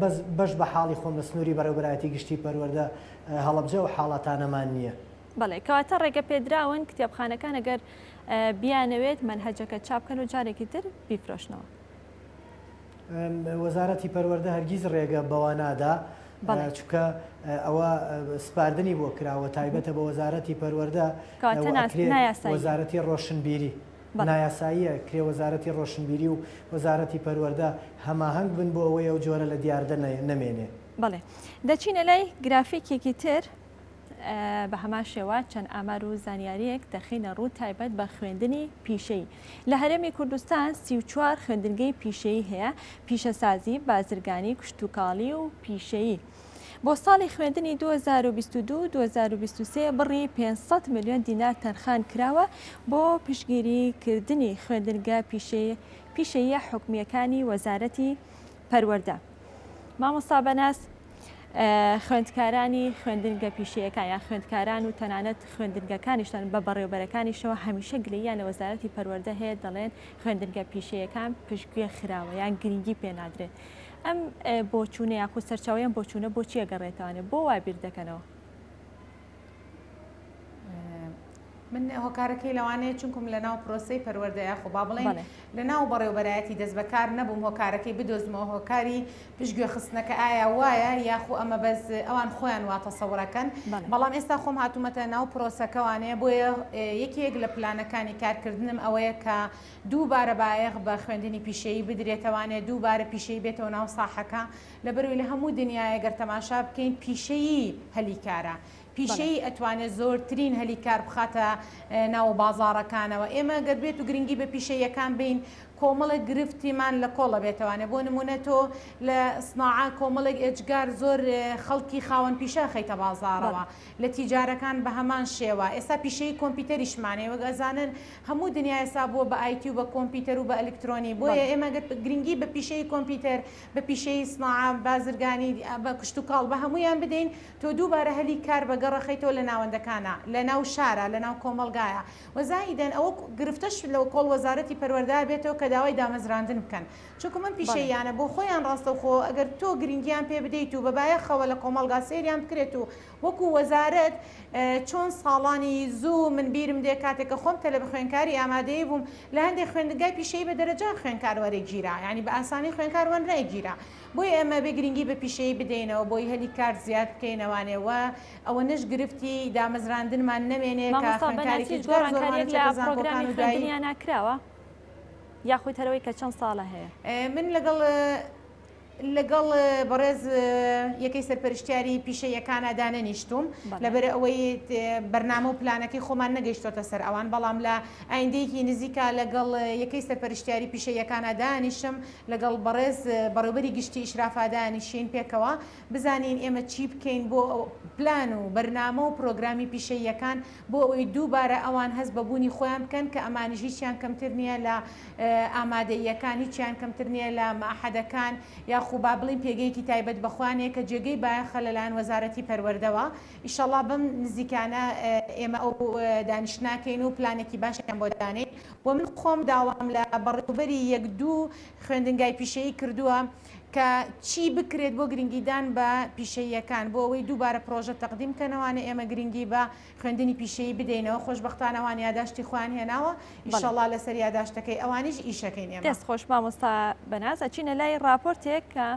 بەس بەش بە حاڵی خۆم لە سنووری بەڕێوبەرایەتی گشتی پەروەەردە هەڵەبجە ئەو حاڵەتانەمان نییە. بەڵێ کەواتە ڕێگەپێدراون کتێبخانەکان ئەگەر بیانەوێت مەنهەجەکە چاپ بکەن و جارێکی تر بیفرۆشنەوە. وەزارەتی پەروەردە هەرگیز ڕێگە بەوە نادا چونکە ئەوە سپاردنی بۆ کراوە تایبەتە بە وەزارەتی پەروەردە وەزارەتی ڕۆشنبیری نایاساییە کرێ وەزارەتی ڕۆشنبیری و وەزارەتی پەروەردە هەماهەنگ بن بۆ ئەوەی ئەو جۆرە لە دیاردە نەمێنێ. بەڵێ دەچینە لای گرافیکێکی تر بە هەمان شێوە چەند ئامار و زانیاریەک دەخینە ڕوو تایبەت بە خوێندنی پیشەی لە هەرێمی کوردستان سیچوار خوێندنگەی پیشەی هەیە پیشەسازی بازرگانی کشتتوکاڵی و پیشەیی. بۆ ساڵی خوێندنی 2022 2023 بڕی 500 میلیۆن دینار تەرخان کراوە بۆ پشگیری کردنی خوێندنگە پیشەیە حکومیەکانی وەزارەتی پەروەردە مامۆستا بەناز خوێندکارانی خوێندنگە پیشەیەەکان یان خوێندکاران و تەنانەت خوێندنگەکانیشتان بە بەڕێوبەرەکانیشەوە هەمیشە گلیان لە وەزارەتی پەروەەردە هەیە دەڵێن خوێندنگە پیشەیەەکان پشتگوێ خراوە یان گرنگی پێنادرێت ئەم بۆچوونە یاخود سەرچاویان بۆچوونە بۆچیە گەڕێتوانێت بۆ وابیر دەکەنەوە من هۆکارەکەی لەوانەیە چونکم لە ناو پرۆسی پەروەەردە یاخۆ با بڵێن لە ناو بەڕێوبەرایەتی دەست بەکار نەبووم هۆکارەکەی بدۆزمەوە هۆکاری پشتگوێ خستنەکە ئایا وایە یاخۆ ئەمە بەس ئەوان خۆیان واتە سەوڕەکەن بەڵام ئێستا خۆم هاتوومەتە ناو پرۆسەکەوانەیە بۆیە یەکێک لە پلانەکانی کارکردنم ئەوەیە کە دووبارە بایەخ بە خوێندنی پیشەیی بدرێتەوانێ دووبارە پیشەی بێتەوە ناو ساحەکە لەبەروی لە هەموو دنیایە گەر تەماشا بکەین پیشەیی هەلی کارە پیشەیی ئەتوانێت زۆرترین هەلی کار بخاتە ناوە بازاڕەکانەوە ئێمە گەر بێت و گرنگی بە پیشەیەکان بین کۆمەڵە گرفتیمان لە کۆڵە بێتوانێت بۆ نمونە تۆ لە سناعە کۆمەڵێک ئێجگار زۆر خەڵکی خاوەن پیشە خەیتە بازارەوە لە تیجارەکان بە هەمان شێوە ئێستا پیشەی کۆمپیوتەریشمانەیە وەک ئەزانن هەموو دنیا ئێستا بووە بە ئایتی و بە کۆمپیوتەر و بە ئەلکترۆنی بۆیە ئێمە گرنگی بە پیشەی کۆمپیوتەر بە پیشەیی سناعە، بازرگانی، بە کشتوکاڵ، بە هەموویان بدەین، تۆ دووبارە هەلی کار بە گەڕ ئەخەیتەوە لە ناوەندەکانا، لە ناو شارا، لە ناو کۆمەڵگایە. وە زائیدەن ئەوە گرفتەش لە کۆڵ وەزارەتی پەروەردە بێتەوە کە داوای دامەزراندن بکەن. چونکوو من بەڵێ. پیشەییانە بۆ خۆیان ڕاستەوخۆ ئەگەر تۆ گرینگیان پێ بدەیت و بە بایەخەوە لە کۆمەڵگا سەیریان بکرێت و وەکو وەزارەت چۆن ساڵانی زوو من بیرم دێ کاتێک کە خۆم تەلەبە خوێنکاری ئامادەیی بووم لە هەندێ خوێندنگای پیشەیی بە دەرەجان خوێنکار وەرە گیرا یانی بە ئاسانی خوێنکار وەر نەگیرا بۆیە ئێمە بێ گرینگی بە پیشەیی بدەینەوە بۆی هەلی کار زیاد بکەینەوانێ وە ئەوەنەش گرفتی دامەزراندنمان نەمێنێ کە خوێنکارێکی جگەر زۆرمان چێتە زانکۆکان و دوایی مامۆستا بەناسی هیچ گۆڕانکاریەک لە پڕۆگرامی خوێندنیانا کراوە یاخود هەرەوەی کە چەند ساڵە هەیە؟ من لەگەڵ لەگەڵ بەڕێز یەکەی سەرپەرشتیاری پیشە یەکانە دانەنیشتوم لەبەر ئەوەی بەرنامە و پلانەکەی خۆمان نەگەیشتۆتە سەر ئەوان بەڵام لە ئایندەیەکی نزیکا لەگەڵ یەکەی سەرپەرشتیاری پیشە یەکانە دانیشم لەگەڵ بەڕێز بەڕێوبەری گشتی ئیشرافادانیشین پێکەوە بزانین ئێمە چی بکەین بۆ پلان و بەرنامە و پرۆگرامی پیشە یەکان بۆ ئەوەی دووبارە ئەوان هەست بەبوونی خۆیان بکەن کە ئەمانیژییان کەمتر نییە لە ئامادەییەکان هیچیان کەمتر نییە لە مەعهەدەکان یاخو با بڵێین پێگەیەکی تایبەت بە خۆیان هەیە کە جێگەی بایەخە لەلایەن وەزارەتی پەروەردەوە ئیشەڵا بەم نزیکانە ئێمە ئەو دانیشت ناکەین و پلانێکی باشیان بۆ دانێین و من خۆم داوام لە بەڕێوبەری یەک دوو خوێندنگای پیشەیی کردووە کە چی بکرێت بۆ گرنگیدان بە پیشەییەکان بۆ ئەوەی دووبارە پرۆژە تەقدیم کەنەوانە ئێمە گرنگی بە خوێندنی پیشەیی بدەینەوە خۆشبەختانە ئەوان یاداشتی خۆیان هێناوە ئیشەڵا لەسەر یاداشتەکەی ئەوانیش ئیشەکەین ئێمە دەست خۆش مامۆستا بەناز ئەچینە لای راپۆرتێک کە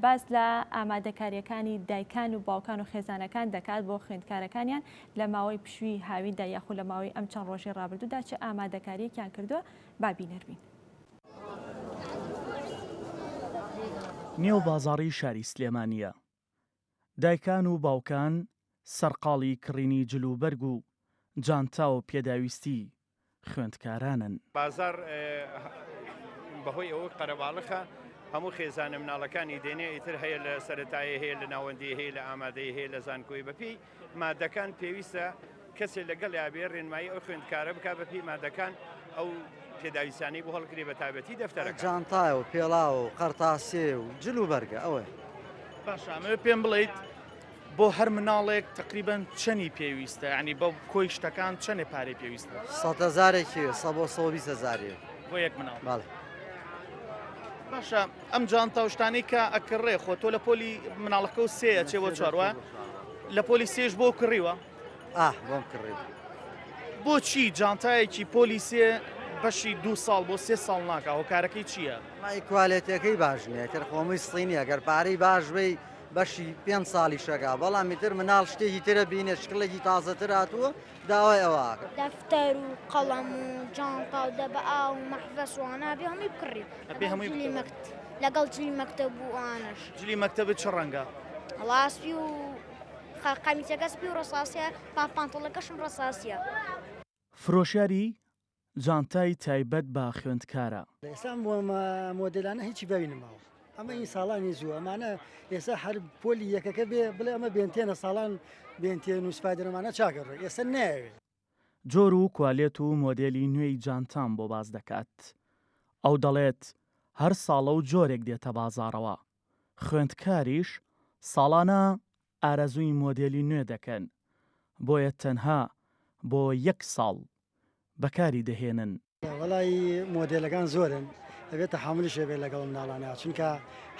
باز لە ئامادەکاریەکانی دایکان و باوکان و خێزانەکان دەکات بۆ خوێندکارەکانیان لە ماوەی پشوی هاویندا یاخود لە ماوەی ئەم چەند ڕۆژی ڕابردوودا چ ئامادەکاریەکیان کردووە بابینەربین. نێو بازاڕی شاری سلێمانییە. دایکان و باوکان سەرقاڵی کڕینی جل و بەرگ و جانتا و پێداویستی خوێندکارانن. بازاڕ بەهۆی ئەوەک قەرەباڵخە هەموو خێزانە مناڵەکانی دێنێ ئیتر هەیە لە سەرەتایی هەیە لە ناوەندی هەیە لە ئامادەیی هەیە لە زانکۆی بەپێی مادەکان پێویستە کەسێ لەگەڵیا بێ ڕێنمایی ئەو خوێندکارە بکە بە پێی مادەکان ئەو پێداویستانەی بۆ هەڵگرێ بە تابەتی دەفتەرە جانتای و پێڵاو و قەرتاسێ و جل و بەرگە ئەوە باشامە پێم بڵیت بۆ هەر مناڵێک تقریبان چەنی پێویستە ینی بە کۆی شتەکان چەنێ پارەی پێویستە سەزارێکی سە بۆ سەویزە زاری بۆ یەک مناڵ باڵێ باشە ئەم جانتا و شتانەی کە ئەکڕێ خۆ تۆ لە پۆلی مناڵەکە و سێ ئەچێ بۆ چوار وایە؟ لە پۆلی سێش بۆ کڕیوە؟ ئاه بۆم کڕیوە. بۆچی جانتایەکی پۆلی سێ بەشی دوو ساڵ بۆ سێ ساڵ ناکا هۆکارەکەی چییە؟ مای کوالێتیەکەی باش نییە ئیتر خۆمەی سینی ئەگەر پارەی باش بی بەشی پێنج ساڵی شەکا بەڵام ئیتر مناڵ شتێکی ترە بینێ شکڵێکی تازەتر هاتووە داوای ئەوە ئەکەم. دەفتەر و قەڵەم و جانتا و دەبە ئاو و مەحڤەس و ئانا ئەبێ هەمووی بکڕی. ئەبێ هەمووی بکڕی. جلی مەکت لەگەڵ جلی مەکتەب و ئاناش. جلی مەکتەبت چ ڕەنگە؟ وەڵا سپی و خە قەمیسەکە سپی و ڕەساسییە، پا پانتۆڵەکەشم ڕەساسییە. فرۆشیاری، جانتای تایبەت بە خوێندکارە. ئێستا ئەم مۆدێلانە هیچی باوی نەماوە ئەمە ئی ساڵانی زوو ئەمانە ئێستا هەر پۆلی یەکەکە بێ بڵێ ئەمە بێنتێنە ساڵان بێنتێن و سپایدەرمانە چاکە ڕێ ئێستا نایەوێ. جۆر و کوالێت و مۆدێلی نوێی جانتام بۆ باس دەکات ئەو دەڵێت هەر ساڵە و جۆرێک دێتە بازاڕەوە خوێندکاریش ساڵانە ئارەزووی مۆدێلی نوێ دەکەن، بۆیە تەنها بۆ یەک ساڵ بەکاری دەهێنن. وەڵایی مۆدێلەکان زۆرن ئەبێ تەحامولیش هەبێ لەگەڵ ئەم ناڵانە چونکە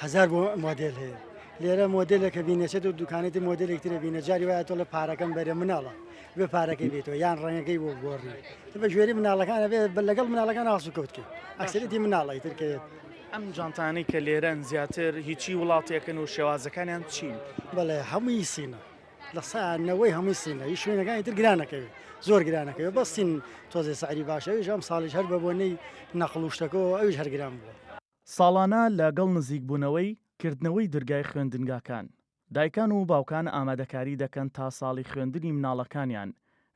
هەزار بۆ مۆدێل هەیە لێرە مۆدێلێکە بینێچێت و دوکانێت و مۆدێلێک ترە بینە جاری وایە تۆڵە پارەکەم بەرێ مناڵە بێ پارەکەی بێتەوە یان ڕەنگەکەی بۆ گۆڕی بە گوێری مناڵەکانە بێ بە لەگەڵ مناڵەکان ئاسو کەوتکە ئەکسەرێتی مناڵی ترکەوێت ئەم جانتانەی کە لێرەن زیاتر هیچی وڵاتێکن و شێوازەکانیان چین بەڵێ هەمووی سینە لە سانەوەی هەمووی سینە هیچ شوێنەکانی تر گرانەکەوێت زۆر گرانەکەوێ بەستین تۆزێ ساری باشەویش ئەم ساڵیش هەر بەبوونەی نەخڵوشتەکەەوە ئەوش هەرگران بووە. ساڵانە لە گەڵ نزیکبوونەوەی کردنەوەی درگای خوێندنگاکان، دایکان و باوکان ئامادەکاری دەکەن تا ساڵی خوێندنی مناڵەکانیان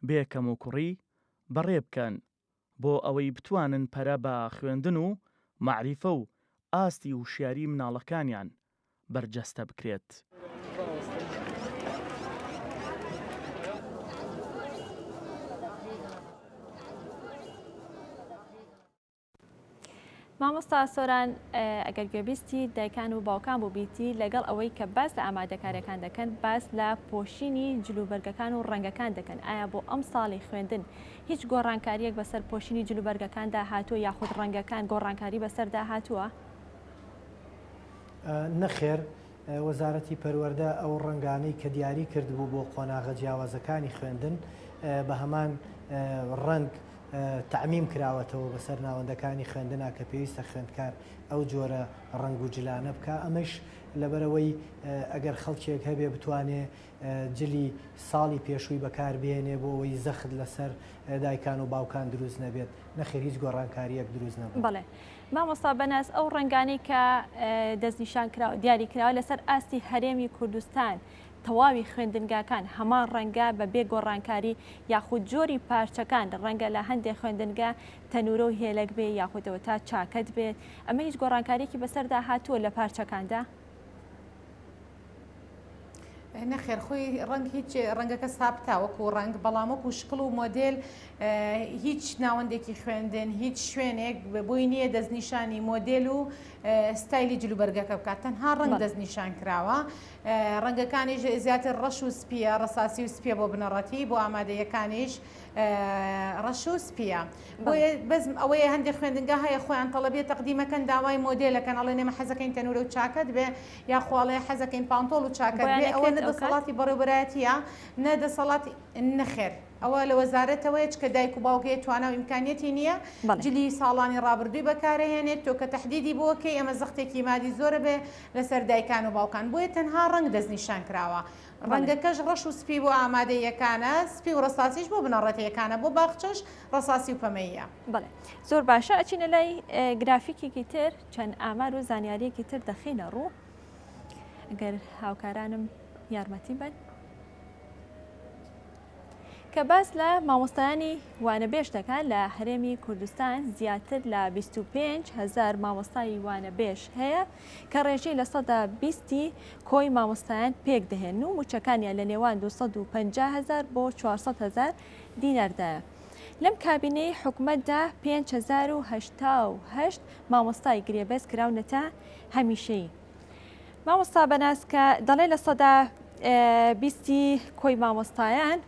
بێ کەموکوڕی بەڕێ بکەن، بۆ ئەوەی بتوانن پەرە بە خوێندن و مەعریفە و ئاستی وشیاریی مناڵەکانیان بەرجەستە بکرێت. مامۆستا سۆران ئەگەر گوێبیستی دایکان و باوکان بووبیتی لەگەڵ ئەوەی کە باس لە ئامادەکاریەکان دەکەن باس لە پۆشینی جلوبەرگەکان و ڕەنگەکان دەکەن ئایا بۆ ئەم ساڵی خوێندن هیچ گۆڕانکاریەک بەسەر پۆشینی جلوبەرگەکاندا هاتووە یاخود ڕەنگەکان گۆڕانکاری بەسەردا هاتووە؟ نەخێر وەزارەتی پەروەردە ئەو ڕەنگانەی کە دیاری کردبوو بۆ قۆناغە جیاوازەکانی خوێندن بە هەمان ڕەنگ تەعمیم کراوەتەوە بەسەر ناوەندەکانی خوێندنا کە پێویستە خوێندکار ئەو جۆرە ڕەنگ و جلانە بکا ئەمەش لەبەرەوەی ئەگەر خەڵکێک هەبێ بتوانێ جلی ساڵی پێشووی بەکاربێنێ بۆ ئەوەی زەخت لەسەر دایکان و باوکان دروست نەبێت نەخێر هیچ گۆڕانکاریەک دروست نەبوو. بەڵێ مامۆستا بەناز ئەو ڕەنگانەی کە دەستنیشان کراوە دیاری کراوە لەسەر ئاستی هەرێمی کوردستان تەواوی خوێندنگاکان هەمان ڕەنگە بە بێ گۆڕانکاری یاخود جۆری پارچەکان ڕەنگە لە هەندێک خوێندنگە تەنورە و هێلەک بێ یاخودەوە تا چاکەت بێت ئەمە هیچ گۆڕانکاریکی بەسەردا هاتووە لە پارچەکاندا؟ نەخێر خۆی ڕەنگ هیچ ڕەنگەکە ساپتا وەکو ڕەنگ بەڵام وەکو شکڵ و مۆدل هیچ ناوەندێکی خوێندن هیچ شوێنێک بۆی نییە دەستنیشانی مۆدل و ستایلی جلوبەرگەکە بکات تەنها ڕنگ دەستنیشان کراوە ڕەنگەکانیش زیاتر ڕەش و سپیە ڕساسی و سپیە بۆ بنەڕەتی بۆ ئامادەیەکانیش ڕەش و سپیە بەزم ئەوەیە هەندێک خوێندنگە هەیە خۆیان تەڵەبێت تەقدیمەکەن داوای مۆدلەکەن ئەڵێ نێمە حەزەکەین تەنورە و چاکەت بێ یاخۆ ئەڵێ حەزەکەین پانتۆڵ و چاکەت بێ ئەوە نە دەسەڵاتی بەڕێوبەرایەتیە نە دەسەڵاتی نەخێر ئەوە لە وەزارەتەوەیە چکە دایک و باوک هەیە توانا و ئیمکانیەتی نییە جلی ساڵانی ڕابردووی بەکارەهێنێت تۆ کە تهدیدی بۆکەی ئەمە زەختێکی مادی زۆرە بێ لەسەر دایکان و باوکان بۆیە تەنها ڕەنگ دەستنیشان کراوە ڕەنگەکەش ڕەش و سپی بۆ ئامادەیەکانە سپی و ڕساسیش بۆ بنەڕەتەکانە بۆ باخچەش ڕساسی و پەمەییە بڵێ زۆر باشە ئەچینە لای گرافیکێکی تر چەند ئامار و زانیاریەکی تر دەخینە ڕوو گەر هاوکارانم یارمەتی بن کە باس لە مامۆستایانی وانەبێژ دەکات لە هەرێمی کوردستان زیاتر لە 25 هزار مامۆستایی وانەبێژ هەیە کە ڕێژەی لە سەدا بیستی کۆی مامۆستایان پێک دەهێن و موچەکانیان لە نێوان 250 هزار بۆ 400 هزار دیناردایە. لەم کابینەی حکومەتدا پێنج هەزار و هەشتا و هەشت مامۆستای گرێبەست کراونەتە هەمیشەیی مامۆستا بەناس کە دەڵێ لە سەدا بیستی کۆی مامۆستایان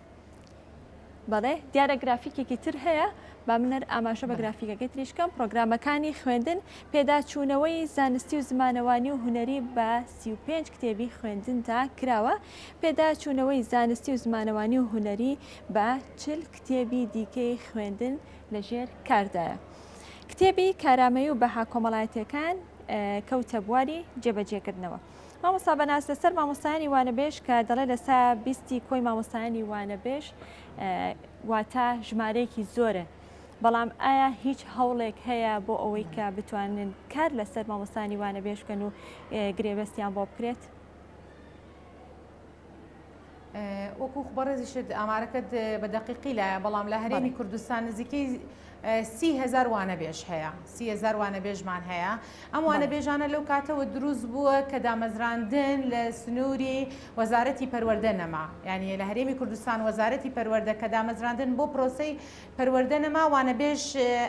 بەڵێ دیارە گرافیکێکی تر هەیە با منەر ئاماژە بە گرافیکەکەی تریشکەم پرۆگرامەکانی خوێندن پێداچوونەوەی زانستی و زمانەوانی و هوەری بە 35 کتێبی خوێندندا کراوە پێداچوونەوەی زانستی و زمانەوانی و هوەری بە چل کتێبی دیکەی خوێندن لە ژێر کاردایە. کتێبی کارامەیی و بەها کۆمەڵایەتیەکان کەوتە بواری جێبەجێکردنەوە. مامۆستا بەناز لەسەر مامۆستایانی وانەبێژ کە دەڵێ لە سا بیستی کۆی مامۆستایانی وانەبێژ واتە ژمارەیەکی زۆرە بەڵام ئایا هیچ هەوڵێک هەیە بۆ ئەوەی کە بتوانن کار لەسەر مامۆستانی وانە بێشکەن و گرێبەستیان بۆ بکرێت؟ وەکو بەڕێزیشت ئامارەکەت بە دقیقی لایە بەڵام لە هەرێمی کوردستان نزیکەی سیهزار وانە بێژ هەیە سیهزار وانە بێژمان هەیە ئەم وانە بێژانە لەو کاتەوە دروست بووە کە دامەزراندن لە سنووری وەزارەتی پەروەەردە نەما یعنی لە هەرێمی کوردستان وەزارەتی پەروەەردە کە دامەزراندن بۆ پرۆسی پەروەەردە نەما وانە بێژ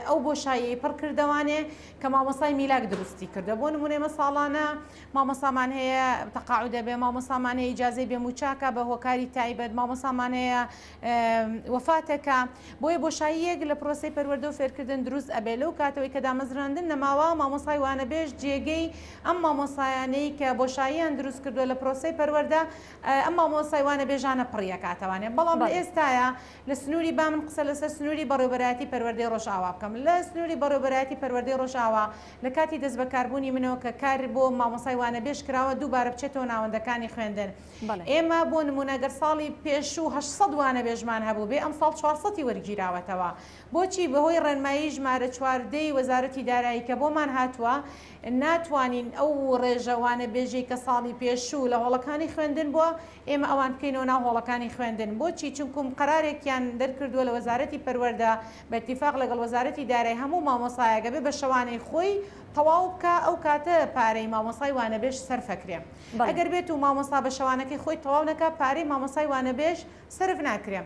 ئەو بۆ شایی پڕ کردوانێ کە مامەسای میلاک دروستی کردە بۆ نمونێمە ساڵانە مامۆستامان هەیە تەقاعودە بێ مامۆستامان هەیە ئیجازەی بێ موچاکە بە هۆکاری تایبەت مامۆستامان هەیە وەفاتەکە بۆیە بۆشاییەک لە پرۆسی پەروەردە و فێرکردن دروست ئەبێ لەو کاتەوەی کە دامەزراندن نەماوە مامۆستای وانەبێژ جێگەی ئەم مامۆستایانەی کە بۆشاییان دروست کردووە لە پرۆسی پەروەردە ئەم مامۆستای وانەبێژانە پڕیەکاتەوانێ بەڵام لە بەڵێ. ئێستاە لە سنووری بامن قسە لەسەر سنووری بەڕێوبەرایەتی پەروەردەی ڕۆژئاوا بکەم لە سنووری بەڕێوبەرایەتی پەروەردەی ڕۆژئاوا لە کاتی دەستبەکاربوونی منەوە کە کار بۆ مامۆستای وانەبێژ کراوە دووبارە بچێتەوە ناوەندەکانی خوێندن ئێمە بۆ نموونە گەر ساڵی پێشوو هەشت سەد وانەبێژمان هەبووبێ ئەمساڵ چوار سەد ی وەرگیراوەتەوە بۆچی بەهۆی ڕێنمایی ژمارە چوار دە ی وەزارەتی دارایی کە بۆمان هاتووە ناتوانین ئەو ڕێژە وانەبێژەی کە ساڵی پێشوو لە هۆڵەکانی خوێندن بووە ئێمە ئەوان بکەینەوە ناو هۆڵەکانی خوێندن بۆچی چونکوم قەرارێکیان دەرکردووە لە وەزارەتی پەروەردە بە ئیتیفاق لەگەڵ وەزارەتی دارای هەموو مامۆستایەک ئەبێ بە شەوانەی خۆی تەواو بکا ئەو کاتە پارەی مامۆستای وانەبێژ سەرف ئەکرێ ئەگەر بێت و مامۆستا بە شەوانەکەی خۆی تەواو نەکا پارەی مامۆستای وانەبێژ سەرف ناکرێ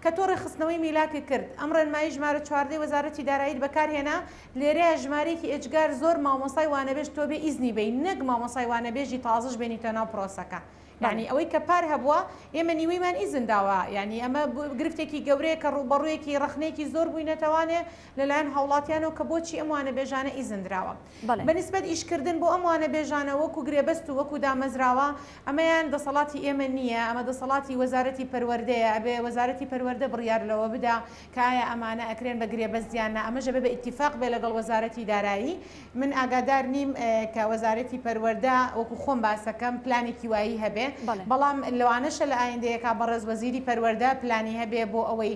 کە تۆ ڕێکخستنەوەی میلاکت کرد ئەم ڕێنمایی ژمارە چواردەی وەزارەتی داراییت بەکار هێنا لێرەیە ژمارەیەکی ئێجگار زۆر مامۆستای وانەبێژ تۆ بێ ئیزنی بێی نەک مامۆستای وانەبێژی تازەش بێنیتە ناو پرۆسەکە یانی ئەوەی کە پار هەبووە ئێمە نیوەیمان ئیزن داوە یانی ئەمە گرفتێکی گەورەیە کە ڕووبەڕوویەکی ڕەخنەیەکی زۆر بووینەتەوانێ لەلایەن هاوڵاتیانەوە کە بۆچی ئەم وانەبێژانە ئیزن دراوە بە نیسبەت ئیشکردن بۆ ئەم وانەبێژانە وەکو گرێبەست و وەکو دامەزراوە ئەمەیان دەسەڵاتی ئێمە نییە ئەمە دەسەڵاتی وەزارەتی پەروەردەیە ئەبێ وەزارەتی پەروەردە بڕیار لەوە بدا کایا ئەمانە ئەکرێن بە گرێبەست یان نا ئەمەش ئەبێ بە ئیتیفاق بێ لەگەڵ وەزارەتی دارایی من ئاگادار نیم کە وەزارەتی پەروەردە وەکو خۆم باسەکەم پلانێکی وایی هەبێ بەڵام لەوانەشە لە ئایندەیە کا بەڕێز وەزیری پەروەردە پلانی هەبێ بۆ ئەوەی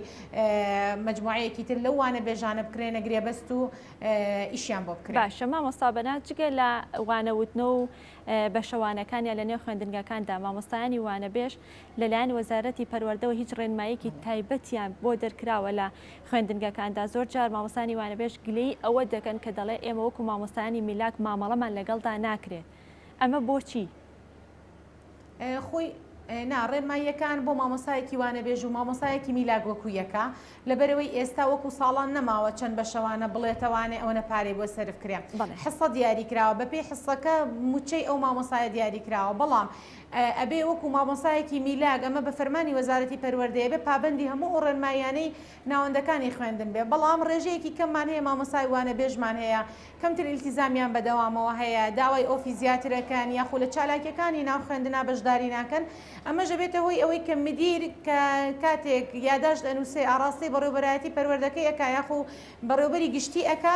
مەجموعەیەکی تر لەو وانە بێژانە بکرێنە گرێبەست و ئیشیان بۆ بکرێ باشە مامۆستا بەناز جگە لە وانەوتنە و بەشەوانەکان یا لە نێو خوێندنگەکاندا مامۆستایانی وانەبێژ لەلایەن وەزارەتی پەروەردەوە هیچ ڕێنماییەکی تایبەتیان بۆ دەرکراوە لە خوێندنگەکاندا، زۆر جار مامۆستانی وانەبێژ گلەیی ئەوە دەکەن کە دەڵێ ئێمە وەکو مامۆستایانی میلاک مامەڵەمان لەگەڵدا ناکرێت، ئەمە بۆچی؟ خوی، نا، ڕێنماییەکان بۆ مامۆستایەکی وانەبێژ و مامۆستایەکی میلاک وەکو یەکە، لەبەرئەوەی ئێستا وەکو ساڵان نەماوە چەند بەشەوانە بڵێتەوانێ ئەوەنە پارەی بۆ سەرف کرێ، بەڵێ. حصە دیاریکراوە، بەپێی حصەکە موچەی ئەو مامۆستایە دیاریکراوە، بەڵام ئەبێ وەکو مامۆستایەکی میلاک ئەمە بە فەرمانی وەزارەتی پەروەردەیە بێ پابەندی هەموو ئەو ڕێنماییانەی ناوەندەکانی خوێندن بێ بەڵام ڕێژەیەکی کەممان هەیە مامۆستای وانەبێژمان هەیە کەمتر ئیلتیزامیان بەدەوامەوە هەیە داوای ئۆفی زیاترەکەن یاخو لە چالاکیەکانی ناو خوێندنا بەشداری ناکەن ئەمەش ئەبێتە هۆی ئەوەی کە مدیر کە کاتێک یاداشت ئەنوسێ ئاڕاستەی بەڕێوبەرایەتی پەروەردەکەی ئەکا یاخو بەڕێوبەری گشتی ئەکا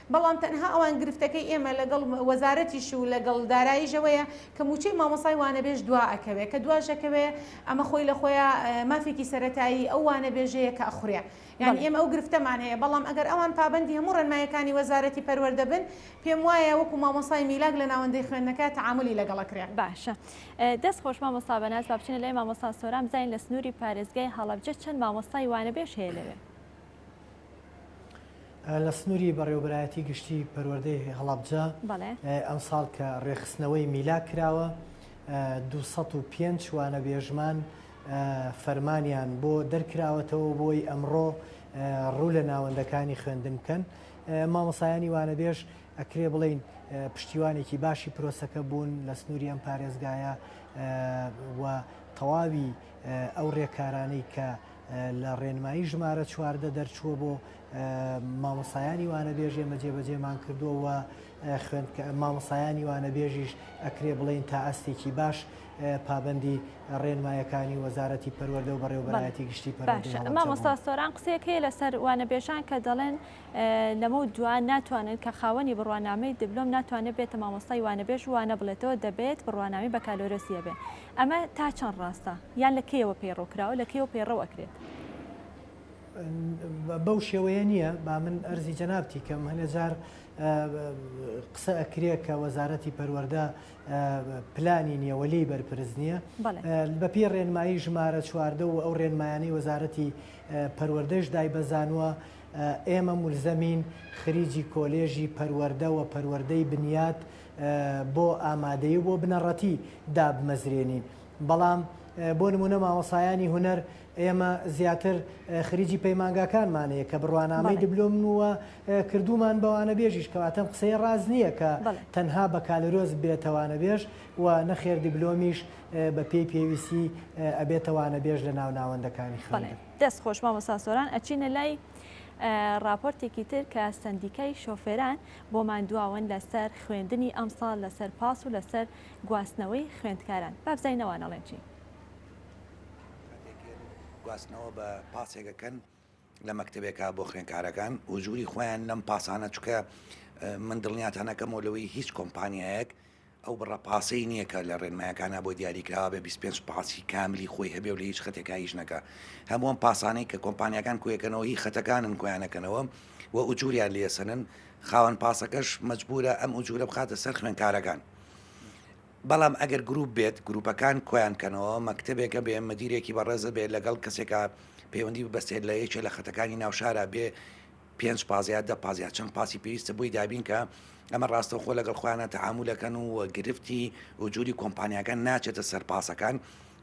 بەڵام تەنها ئەوان گرفتەکەی ئێمە لەگەڵ وەزارەتیش و لەگەڵ داراییش ئەوەیە کە مووچەی مامۆستای وانەبێژ دوا ئەکەوێ کە دواش ئەکەوێ ئەمە خۆی لە خۆیا مافێکی سەرەتایی ئەو وانەبێژەیە کە ئەخورێ یانی ئێمە ئەو گرفتەمان هەیە بەڵام ئەگەر ئەوان پابەندی هەموو ڕێنماییەکانی وەزارەتی پەروەردە بن پێم وایە وەکو مامۆستای میلاک لە ناوەندەی خوێندنەکە تەعامولی لەگەڵ ئەکرێ. باشە دەست خۆش مامۆستا بەناز با بچینە لای مامۆستا سۆران بزانین لە سنووری پارێزگای هەڵەبجە چەند مامۆستای وانەبێژ هەیە لەوێ؟ لە سنوری بەڕێوەبەرایەتی گشتی پەروەردەی هەڵەبجە ئەمساڵ کە ڕێخستنەوەی میلا کراوە 205 وانەبێژمان فەرمانیان بۆ دەرکراوەتەوە بۆی ئەمڕۆ ڕوو لە ناوەندەکانی خوێندن بکەن مامۆسایانی وانەبێژ ئەکرێ بڵین پشتیوانێکی باشی پرۆسەکە بوون لە سنووری ئەم پارێزگایە و تەواوی ئەو ڕێکارانەی کە لە ڕێنمایی ژمارە چواردە دەرچووە بۆ مامۆسایانی وانەبێژ ئێمە جێبەجێمان کردووە و مامۆسایانی وانەبێژیش ئەکرێ بڵین تا ئەستێکی باش پابندی ڕێنمایەکانی وەزارەتی پەروەەردە و بەڕێوبەرایەتی گشتی مامۆستا سۆران قسەکەی لەسەر وانەبێژان کە دەڵێن لەمە دوان ناتوانن کە خاوەنی بڕوانامەی دبلۆم ناتوانێت بێتە مامۆستای وانەبێژ وانە بڵێتەوە دەبێت بڕوانامی بەکالۆرسیە بێ ئەمە تا چەند ڕاستە؟ یان لە کەیەوە پەیڕەو کراوە؟ لە کەیەوە پەیڕەو ئەکرێت؟ ن بەو شێوەیە نییە، با من ئەرزی جەنابتی کەم، هەنێ جار قسە ئەکرێ کە وەزارەتی پەروەردە پلانی نییە و لێی بەرپرس نییە. بەڵێ. بە پێی ڕێنمایی ژمارە چواردە و ئەو ڕێنمایانەی وەزارەتی پەروەردەش دایبەزانووە، ئێمە مولزەمین خریجی کۆلێژی پەروەردە و پەروەردەی بنیات بۆ ئامادەیی و بۆ بنەڕەتی دابمەزرێنین بەڵام بۆ نمونە مامۆسایانی هونەر ئێمە زیاتر خریجی پەیمانگاکانمان هەیە کە بڕوانامەی دبلۆم وە کردومان بەوانە بێژیش کەواتەم قسەی ڕاز نییە کە تەنها بە کالرۆز بێتەوانە بێژ و نەخێر دبلۆمیش بە پێی پێویستی ئەبێتەوانە بێژ لە ناو ناوەندەکانی خەڵێ دەست خۆش مامۆساسۆران ئەچینە لای ڕاپۆرتێکی تر کە سندیکای شۆفێران بۆمان دواون لە سەر خوێندنی ئەمساڵ لە سەر پاس و لە سەر گواستنەوەی خوێندکاران با بزانین ئەوان ئەڵێن چی. کاتێک یەن گواستنەوە بە پاسێک ئەکەن لە مەکتەبێکا بۆ خوێنکارەکان ئوجوری خۆیان لەم پاسانە چکە من دڵنیاتان ئەکەمەوە لەوەی هیچ کۆمپانیایەک ئەو بڕە پاسەی نییە کە لە ڕێنمایەکانا بۆ دیاریکراوە بێ بیست پێنج پاسی کاملی خۆی هەبێ و لە هیچ خەتێکا ئیش نەکا هەموو ئەم پاسانەی کە کۆمپانیاکان کۆیەکەنەوە هی خەتەکانن کۆیانەکەنەوە و ئوجوریان لێ سەنن خاوەن پاسەکەش مەجبورە ئەم ئوجورە بخاتە سەر خوێنکارەکان بەڵام ئەگەر گروپ بێت گروپەکان کۆیان کەنەوە مەکتتەبێکە بێ مدیرێکی بەڕێزە بێت لەگەڵ کەسێکە پەیوەندی بەسێت لە یەکێ لە خەتەکانی ناوشارە بێ پێنج پاس یا دە پاس یا چەند پاسی پێویستە بۆی دابین کە ئەمە ڕاستەوخۆ لەگەڵ خۆیانە تەعامولەکەن و گرفتی و جووری کۆمپانیاکان ناچێتە سەر پاسەکان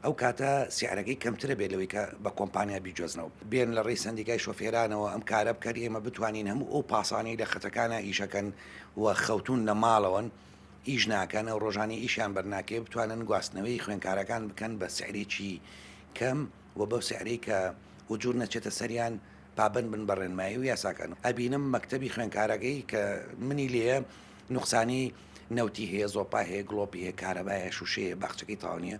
ئەو کاتە سیعرەکەی کەمترە بێت لەوەی کە بە کۆمپانیا بیجۆزنەوە بێن لە ڕێی سندیکای شۆفێرانەوە ئەم کارە بکەن ئێمە بتوانین هەموو ئەو پاسانەی لە خەتەکانە ئیشەکەن و خەوتون لە ماڵەوەن ئیش ناکەنە و ڕۆژانی ئیشیان بەرناکەێ بتوانن گواستنەوەی خوێنکارەکان بکەن بە سعرێکی کەم و بەو سعرەی کە وجور نەچێتە سەریان و پابەند بن بە ڕێنمایی و یاساکان ئەبینم مەکتەبی خوێنکارەکەی کە منی لێە نوقسانی نەوتی هەیە زۆپا هەیە گڵۆپی هەیە کارەبایە شوشەیە باخچەکەی تاوانە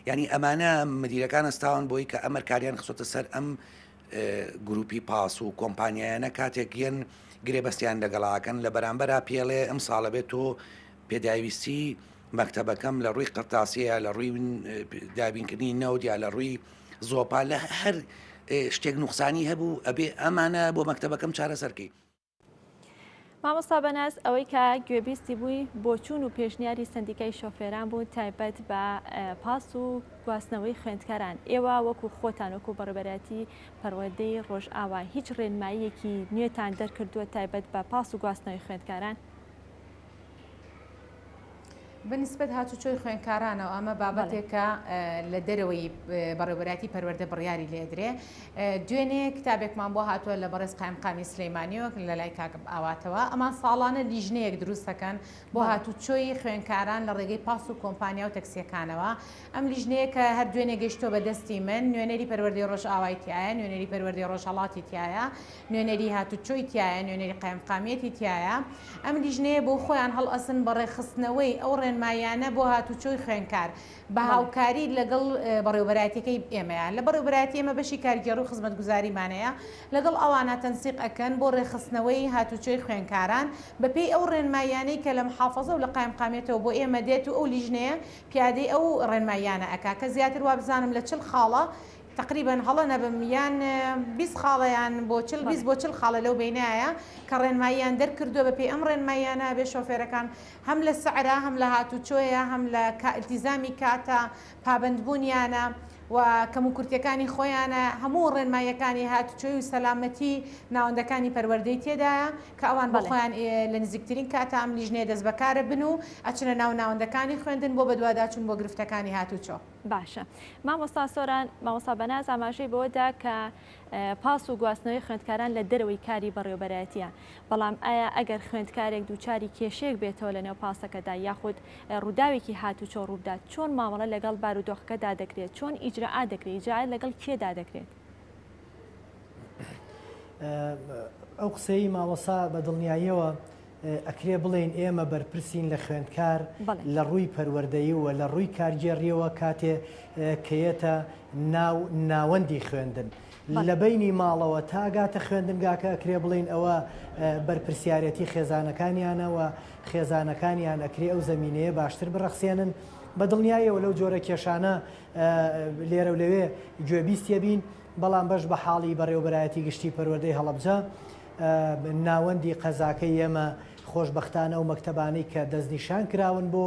ینی ئەمانە مدیرەکان ئەستاوان بۆی کە ئەمەر کاریان خسۆتە سەر ئەم گروپی پاس و کۆمپانیایانە کاتێک یەن گرێبەستیان لەگەڵاکەن لە بەرامبەرا پێڵێ ئەم ساڵە بێت تۆ پێداویستی مەکتتەبەکەم لە ڕووی قرتاسەیە لە ڕووی دابینکردنی نەودیا لە ڕووی زۆپا لە هەر شتێک نوخسانی هەبوو ئەبێ ئەمانە بۆ مەکتتەبەکەم چارەسەرکەی مامۆستا بەناس ئەوەی کە گوێبیستی بووی بۆچوون و پێشنیاری سندیکای شۆفێران بوو تایبەت بە پاس و گواستنەوەی خوێندکاران ئێوە وەکو خۆتان وەکو بەڕێبەرەتی پەروەدەی ڕۆژئاوا هیچ ڕێنماییەکی نوێتان دەرکردووە تایبەت بە پاس و گواستنەوەی خوێندکاران بەنیسبەت هاتوچۆی خوێنکارانەوە ئەمە بابەتێکە لە دەرەوەی بەڕێوەبەراتی پەروەەردە بڕیاری لێدرێ دوێنێ کتابێکمان بۆ هاتووە لە بەڕێز قایمقامی سلەیمانیەوە لە لای کاکب ئاواتەوە ئەمان ساڵانە لیژنەیەک دروستەکەن بۆ هاتوچۆی خوێنکاران لە ڕێگەی پاس و کۆمپانیا و تەکسیەکانەوە ئەم لیژنەیە کە هەر دوێنێ گەشتۆ بە دەستی من نوێنەری پەروەردەی ڕۆژ ئاوایتیایە نوێنەری پەروەردەی ڕۆژهڵاتی تایە نوێنەری هاتوچۆی تیایە، نوێنەری قایمقامیەتی تیایە، ئەم لیژنەیە بۆ خۆیان هەڵئەسن بە ڕێکخستنەوەی ئەو ڕێنماییانە بۆ هاتوچۆی خوێنکار بە هاوکاری لەگەڵ بەڕێوەبەرایەتیەکەی ئێمەیە، لە بەڕێوەبەرایەتی ئێمە بەشی کارگێڕی و خزمەتگوزاریمانەیە لەگەڵ ئەوانە تەنسیق ئەکەن بۆ ڕێکخستنەوەی هاتوچۆی خوێنکاران بە پێی ئەو ڕێنماییانەی کە لە محافەزە و لە قایمقامیەتەوە بۆ ئێمە دێت و ئەو لیژنەیە پیادەی ئەو ڕێنماییانە ئەکا کە زیاتر وابزانم لە چل خاڵە تەقریبەن هەڵە نەبم یان بیست خاڵە یان بۆ چل بیست بۆ چل خاڵە لەو بەینایە کە ڕێنماییان دەرکردووە بە پێی ئەم ڕێنماییانە ئەبێ شۆفێرەکان هەم لە سەعرا هەم لە هاتووچۆیە هەم لە کا ئیلتیزامی کاتە پابەند بوونیانە و کەموکورتیەکانی خۆیانە هەموو ڕێنماییەکانی هاتووچۆی و سەلامەتی ناوەندەکانی پەروەردەی تێدایە کە ئەوان بە خۆیان ئێ لە نزیکترین کاتە ئەم لیژنەیە دەستبەکارە بن و ئەچنە ناو ناوەندەکانی خوێندن بۆ بەدواداچوون بۆ گرفتەکانی هاتووچۆ. باشە مامۆستا سۆران مامۆستا بەناز ئاماژەی بەوەدا کە پاس و گواستنەوەی خوێندکاران لە دەرەوەی کاری بەڕێوبەرایەتە بەڵام ئایا ئەگەر خوێندکارێک دووچاری کێشەیەک بێتەوە لە نێو پاسەکەدا یاخود ڕووداوێکی هاتوچۆ ڕووبدات چۆن مامەڵە لەگەڵ بارودۆخەکەدا دەکرێت چۆن ئیجرراا دەکرێت جا لەگەڵ کێدا دەکرێت ئەو قسەی مامۆسا بە دڵنیاییەوە ئەکرێ بڵێین ئێمە بەرپرسین لە خوێندکار لە ڕووی پەروەردەییەوە لە ڕووی کارگێڕیەوە کاتێ کەیەتە ناو ناوەندی خوێندن لە بینی ماڵەوە تاگاتە خوێندنگاکە ئەکرێ بڵین ئەوە بەرپسیارەتی خێزانەکانیانەوە خێزانەکانیان ئەکرێ ئەو زمینەیە باشتر بڕەخسێنن بە دڵنیایەوە لەو جۆرە کێشانە لێرە و لەوێ گوێبیستە بین بەڵام بەش بە حاڵی بەڕێوبەرایەتی گشتی پەروەدەی هەڵبجە ناوەندی قەزاکەی ئێمە خۆشبەختانە ئەو مەکتەبانەی کە دەستنیشان کراون بۆ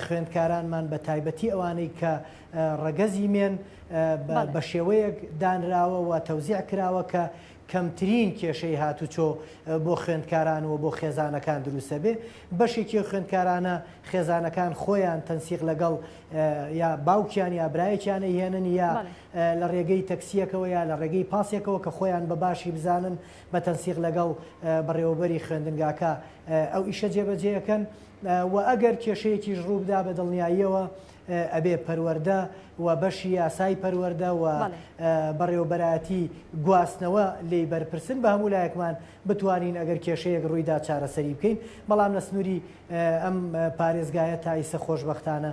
خوێندکارانمان بە تایبەتی ئەوانەی کە ڕەگەزی مێن بە شێوەیەک دانراوە و تەوزیع کراوە کە کەمترین کێشەی هاتوچۆ بۆ خوێندکاران و بۆ خێزانەکان دروستە بێ بەشێکی خوێندکارانە خێزانەکان خۆیان تەنسیق لەگەڵ یا باوکیان یا برایەکیانە هێنن یا لە ڕێگەی تەکسییەکەوە یا لە ڕێگەی پاسێکەوە کە خۆیان بە باشی بزانن بە تەنسیق لەگەڵ بەڕێوەبەری خوێندنگاکە ئەو ئیشە جێبەجێ ئەکەن و ئەگەر کێشەیەکیش ڕوو بدا بە دڵنیاییەوە ئەبێ پەروەردە و بەشی یاسای پەروەردە و بەڕێوەبەرایەتی گواستنەوە لێی بەرپرسن بە هەموو لایەکمان بتوانین ئەگەر کێشەیەک ڕوویدا چارەسەری بکەین بەڵام لە سنووری ئەم پارێزگایە تایسە خۆشببختانە